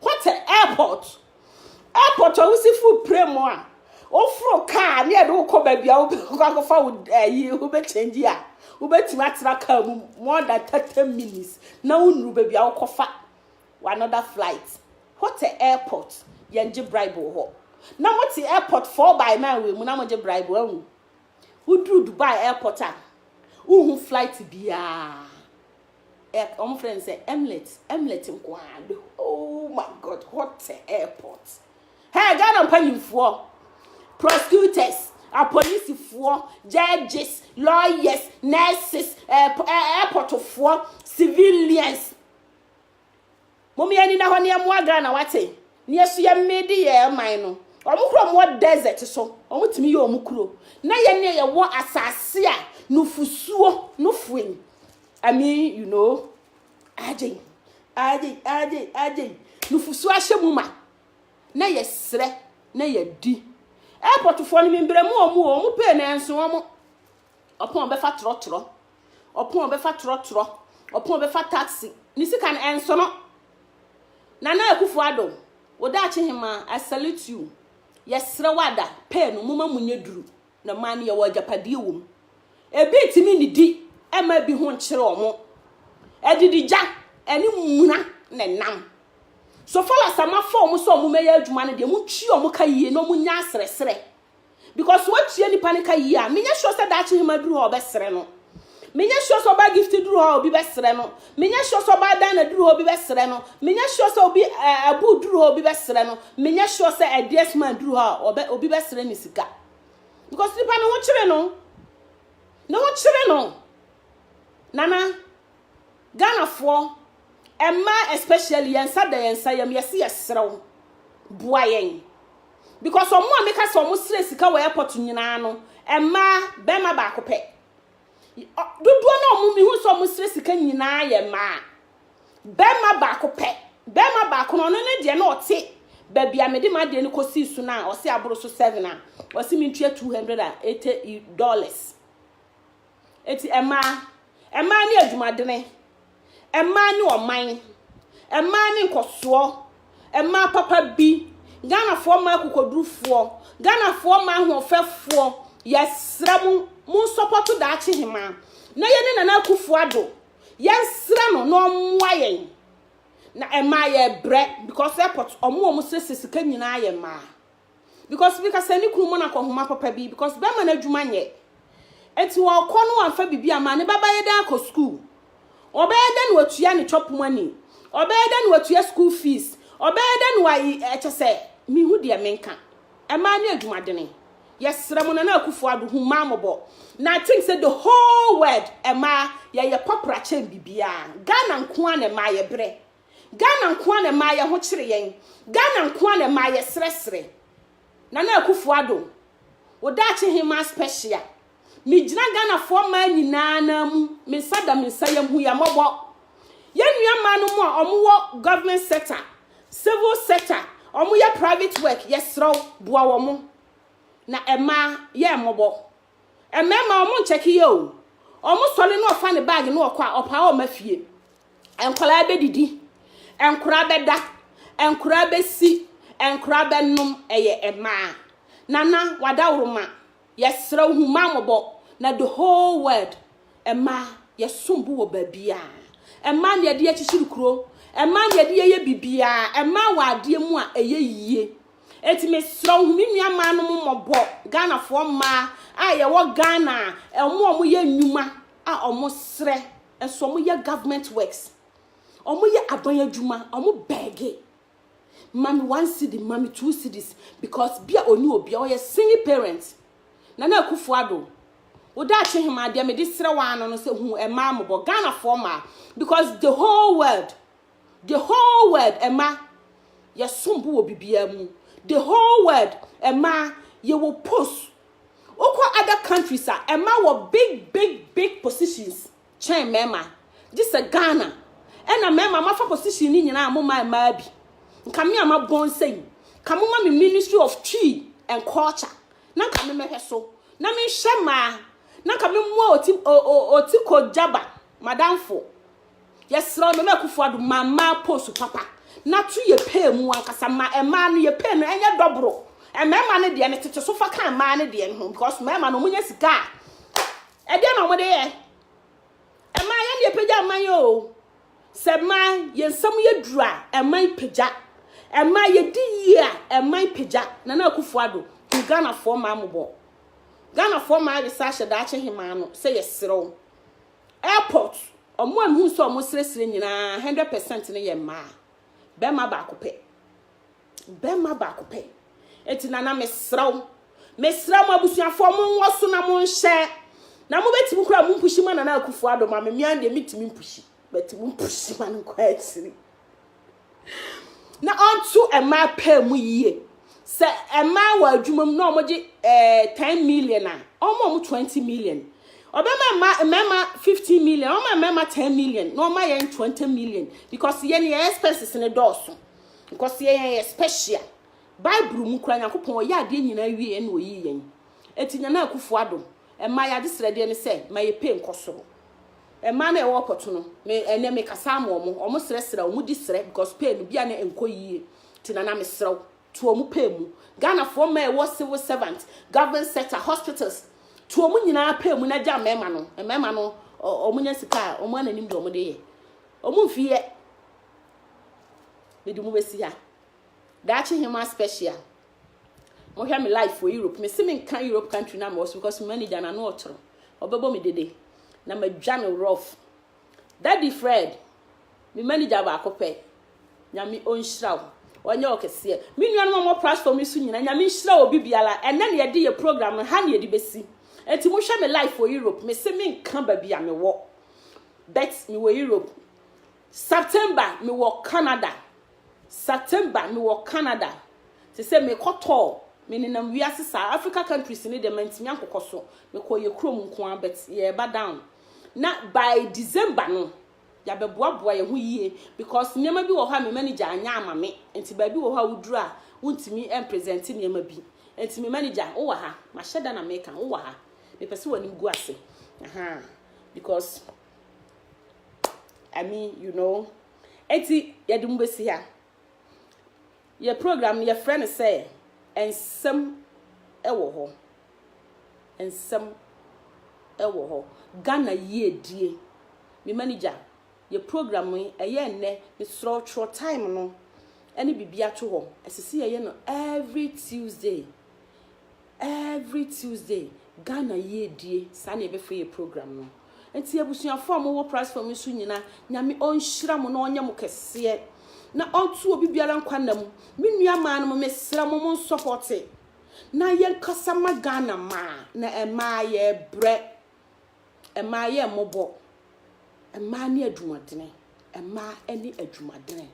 What a airport! Airport a wosi fo pire mu a, woforo kaa ne yɛde wokɔ baabi a wobɛkɔ akɔfa wo ayi eh, wobɛkyɛngye a, wobɛtumi atena kaa mu more than 30 minutes na wonuru baabi a wokɔfa Wɔ another flight ho te airport yɛn gye bribe wɔ hɔ na mo te airport four by nine wɔ mu na mo gye bribe ahu wo duru Dubai airport a wo hu flight biaa ɛ wɔn frɛ no sɛ emlet emlet nkoaa bɛ oh my god hɔ te airport hɛ Ghana mpanyinfoɔ prosecutors apolisifoɔ judges lawyers nurses airport foɔ civilians. Mom yɛn ani na hɔ na yɛn moa Ghana wate na yɛn so yɛn mede yɛn man no wɔn kura wɔn wɔ desert so wɔn tumi yɛ wɔn kuro na yɛn ne yɛ wɔ asase a nufusuo no fue ni I mean you know agye agye agye agye nufusuo ahyɛ mu ma na yɛ srɛ na yɛ di airportfoɔ no membrɛ mu wɔn wɔn pay na ɛnso wɔn ɔpɔn ɔbɛfa trɔtrɔ ɔpɔn ɔbɛfa trɔtrɔ ɔpɔn ɔbɛfa taxi ne sika no ɛnsono nana akufo ado wodaakye hema i salute you yɛsrɛ wada pɛɛ no moma mu nyɛ duru na maa no yɛwɔ agyapadeɛ wɔ mu ebi ntumi nidi ɛma ebi ho nkyerɛ ɔmo adidigya ɛne muna na ɛnam so far as amafo ɔmo sɛ ɔmo mɛyɛ adwuma no deɛ mo twi ɔmo ka yie na ɔmo nya asrɛsrɛ because sɛ watua nipa ne ka yie a menyɛ sure sɛ daakye hema duru hɔ a ɔbɛsrɛ no menyɛ sure sɛ ɔbaa gift duru hɔ a obi bɛsrɛ no menyɛ sure sɛ ɔbaa dana duru hɔ obi bɛsrɛ no menyɛ sure sɛ obi eh, abu duru hɔ obi bɛsrɛ no menyɛ sure sɛ ɛdeɛs man duru hɔ a obi bɛsrɛ ne sika because nipa ne ho kyere no ne ho kyere no nana Ghanafoɔ mmaa especially yɛn nsa da yɛn nsa yam yɛse yɛsrɛ wo boa yɛn because wɔn a meka sɛ wɔn srɛ sika wɔ airport nyinaa no mmaa bɛrima baako pɛ dodoɔ na wɔn mihu sɛ wɔn srɛ sika nyinaa yɛ mmaa bɛrima baako pɛ bɛrima baako no ɔno ne deɛ na ɔte baabi a mede ma deɛ no kɔsii so no a ɔse aboro so seven a ɔse mentua two hundred and eighty dollars Enti mmaa, mmaa ne adwumadene, mmaa ne ɔman, mmaa ne nkɔsoɔ, mmaa papa bi, Ghanafoɔ mmaa akokodurufoɔ, Ghanafoɔ mmaa ahoɔfɛfoɔ, yɛsrɛ mo, mo nsɔpɔto daakye hemaa, na yɛne Nana Akufo Addo, yɛnsrɛ no na ɔmmoa yɛn. Na mmaa yɛbrɛ because airport ɔmo ɔmo sese sika nyinaa yɛ mmaa. because ebi ka sɛ ne kunu ma no akɔ nhoma papa bi because bɛrima no adwuma nyɛ eti ɔkɔ no wamfa biribi ama ne baba yɛ dɛ akɔ sukuu ɔbɛyɛ dɛ na watua ne chop money ɔbɛyɛ dɛ na watua school fees ɔbɛyɛ dɛ na wayi ɛkyɛ sɛ mehu deɛ menka ɛmaa ne adwumadene yɛsrɛ mo nana akufo ado hu maa mɔbɔ na i think sɛ the whole world ɛmaa yɛyɛ pɔpra kyɛn biribiara ghana nko a na ɛmaa yɛbrɛ Ghana nko ara na ɛmaa yɛn ho kyere yɛn. Ghana nko ara na ɛmaa yɛsrɛsrɛ. Nana Akufo Addo, wo daakye hemmaa special, megyina Ghanafoɔ mmaa nyinaa nan mu, me nsa da me nsa yam hu yɛn mmɔbɔ. Yɛn nua mmaa no mu a wɔwɔ government sector, civil sector, wɔyɛ private work, yɛsrɛ wo, boa wɔn. Na mmaa, yɛ mmɔbɔ. Mmarima wɔn nkyɛke yɛ o. Wɔn sɔre na ɔfa ne bag na ɔkɔ a ɔpaa ɔma fie. Nkwadaa bɛdidi, nkwadaa bɛda, nkwadaa bɛsi, nkwadaa bɛnom ɛyɛ mmaa. Nana wadaworoma yɛsrɛ wo hu maa mɔbɔ na the whole world mmaa yɛsom bo wɔ baabiara. Mmaa na yɛde akyikyiri kuro. Mmaa na yɛde yɛyɛ bibiara. Mmaa wɔ adeɛ mu a ɛyɛ yie. Enti mesrɛ wo hu me nua mmaa no mo mmɔbɔ Ghanafoɔ mmaa a yɛwɔ Ghana a wɔn a wɔyɛ nnwuma a wɔn srɛ nso wɔn yɛ government works wɔn yɛ aban adwuma wɔn bɛɛge ma me one cedi ma me two cedis because bi a ɔni obi a ɔyɛ single parent na na akufo ado woda akye hema adeɛ mede srɛ waa no no sɛ hu mmaa mmɔbɔ Ghanafoɔ mmaa because the whole world The whole world, ɛma yɛsom bo wɔ biribiara mu. The whole world, ɛma yɛwɔ post. Wokɔ other countries a, ɛma wɔ big big big positions kyɛn mmarima. Gye sɛ Ghana, ɛna mmarima mafa position no nyinaa a moma mmaa bi. Nka me a mabɔn sɛ yi, ka moma me Ministry of Twi and Culture, na nka me mɛhwɛ so, na menhwɛ mmaa, na nka memmoa Oti, o, o, Otiko Jaba, madamfo. Yɛsrɛ wo Nana Akufo Addo ma mmaa post papa na to yɛ pay mu ankasa ma mmaa no yɛ pay no ɛnyɛ dɔboro. Mmarima no deɛ no tete so fa ka mmaa no deɛ no ho because mmarima no wɔnyɛ sika a ɛdeɛ na wɔde yɛ. Mmaa yɛn deɛ pagya mman yɛ o. Sɛ mmaa yɛn nsɛm yɛ duru a mman pagya. Mmaa yɛdi yie a mman pagya. Nana Akufo Addo hu Ghanafoɔ mmaa mmɔbɔ. Ghanafoɔ mmaa awe sɛ ahyɛ daakye hemaa no sɛ yɛsrɛ wo. Airport, wɔn a mehu sɛ wɔsrɛsrɛ nyinaa, hundred percent no yɛ mmaa. Bɛrima baako pɛ. Bɛrima baako pɛ. Enti nana mesrɛ wo, mesrɛ mo abusuafoɔ mo nwɔ so na mo nhyɛ. Na mo bɛtumi koraa mo mpushi ma nana akufo ado ma me, me ara deɛ metumi mpushi, but mo mpushi ma no nkɔ akyiri. na ɔnto mmaa paa mu yie. Sɛ mmaa wɔ adwuma mu na wɔgye eh, 10 million a, ɔma wɔn 20 million. Ɔbɛma mma mmarima 15 million, ɔma mmarima 10 million, na ɔma yɛn 20 million. Because yɛn yɛn expenses no dɔɔso. Because yɛn yɛn yɛ special. Bible mu kura Nyankopɔn ɔyɛ adeɛ nyinaa wie ɛna ɔyii yɛn. Eti Nana Akufo-Addo, mmaa yɛ adesrɛdeɛ ne sɛ ma yɛpɛ nkɔ soro. Mmaa no a ɛwɔ kɔto no me ɛnɛ me kasa ama ɔmo ɔmo srɛ srɛ ɔmo di srɛ because pay no bia na ɛnkɔ yie nti nana me srɛ wo to ɔmo pay mu Ghana foɔ mmaa a ɛwɔ civil servant government sector hospitals to ɔmo nyinaa pay mu na gya mmarima no mmarima no ɔ ɔmo nya sika a ɔmo ananim deɛ ɔmo de yɛ ɔmo mfi yɛ mede mo bɛsi ha daakye hema special. Mohwɛ me life wɔ Europe. Me se me nka Europe country na mewɔ so because me manager na no ɔtoro. Ɔbɛbɔ me dede. Na madwa no rough. Daddy Fred, me manager baako pɛ. Nyame ɔnhyira wo. Ɔnyɛ wo kɛseɛ. Me nuanom a wɔwɔ platform yi so nyina, Nyame nhyira obi biara. Ɛnɛ na yɛde yɛ program no, ha na yɛde bɛsi. Enti mohwɛ me life wɔ Europe. Me se me nka baabi a mewɔ. But mewɔ Europe. September, mewɔ Canada. September me wɔ Canada sesɛ me kɔ tɔɔ me nenam wiase saa Africa countries no deɛ mantumi ankokɔ so me kɔɔ yɛ kurom nkoaa but yɛɛba down na by December no yabɛboaboa yɛ ho yie because nneɛma bi wɔ hɔ a me manager anyɛ ama me nti baabi wɔ hɔ a woduru a wontumi ɛnpresente nneɛma bi nti me manager wo wɔ ha mahyɛ da na meka wo wɔ ha mepɛ sɛ w'anim gu ase ahaa because I mean you know Enti yɛde mo bɛsi ha. Yɛ program no yɛfrɛ no sɛ nsɛm wɔ hɔ. Nsɛm wɔ hɔ. Ghana yiedie. Me manager, yɛ program yi ɛyɛ nnɛ mesrɛ wo twerɛ time no ɛne biribi ato hɔ. Ɛsɛ sɛ yɛyɛ no every Tuesday. Every Tuesday Ghana yiedie saa na yɛbɛfrɛ yɛ program no nti abusuafoɔ a mowɔ platform yi so nyina Nyame ɔnhyira mo na ɔnyɛ mo kɛseɛ na ɔnto obi biara nkwa nna mu me nua maa no mo mesrɛ mo mo nsɔpɔte na yɛnkasa ma Ghana maa na ɛmaa yɛbrɛ Mmaa yɛ mmɔbɔ. Mmaa ne adwumadene. Mmaa ne adwumadene.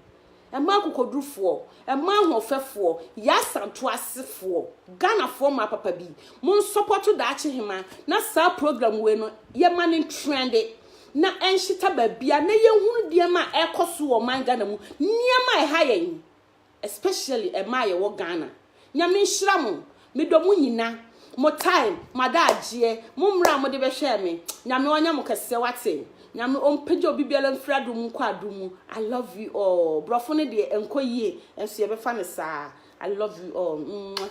Mmaa akokodurufoɔ. Mmaa ahoɔfɛfoɔ. Yɛ asanto asefoɔ. Ghanafoɔ mmaa papa bi. Mo nsɔpɔto daakye hema na saa program wei no yɛ ma no ntrɛnde na ɛnhyeta baabia na yɛhunu deɛma ɛkɔ so wɔ ɔman Ghana mu. Nneɛma ɛha yɛn. especially ɛmaa yɛwɔ Ghana Nyame nhyira mo medɔ mo nyina mo time mo adaagyeɛ mo mmerɛ a mode bɛhwɛɛ me Nyame ɔnyɛ mo kɛseɛ wate Nyame ɔmpagya obi biara mfiri adom mu nkɔ adom mu I love you all borɔfo no deɛ ɛnkɔ yie nso yɛbɛfa no saa I love you all mwah.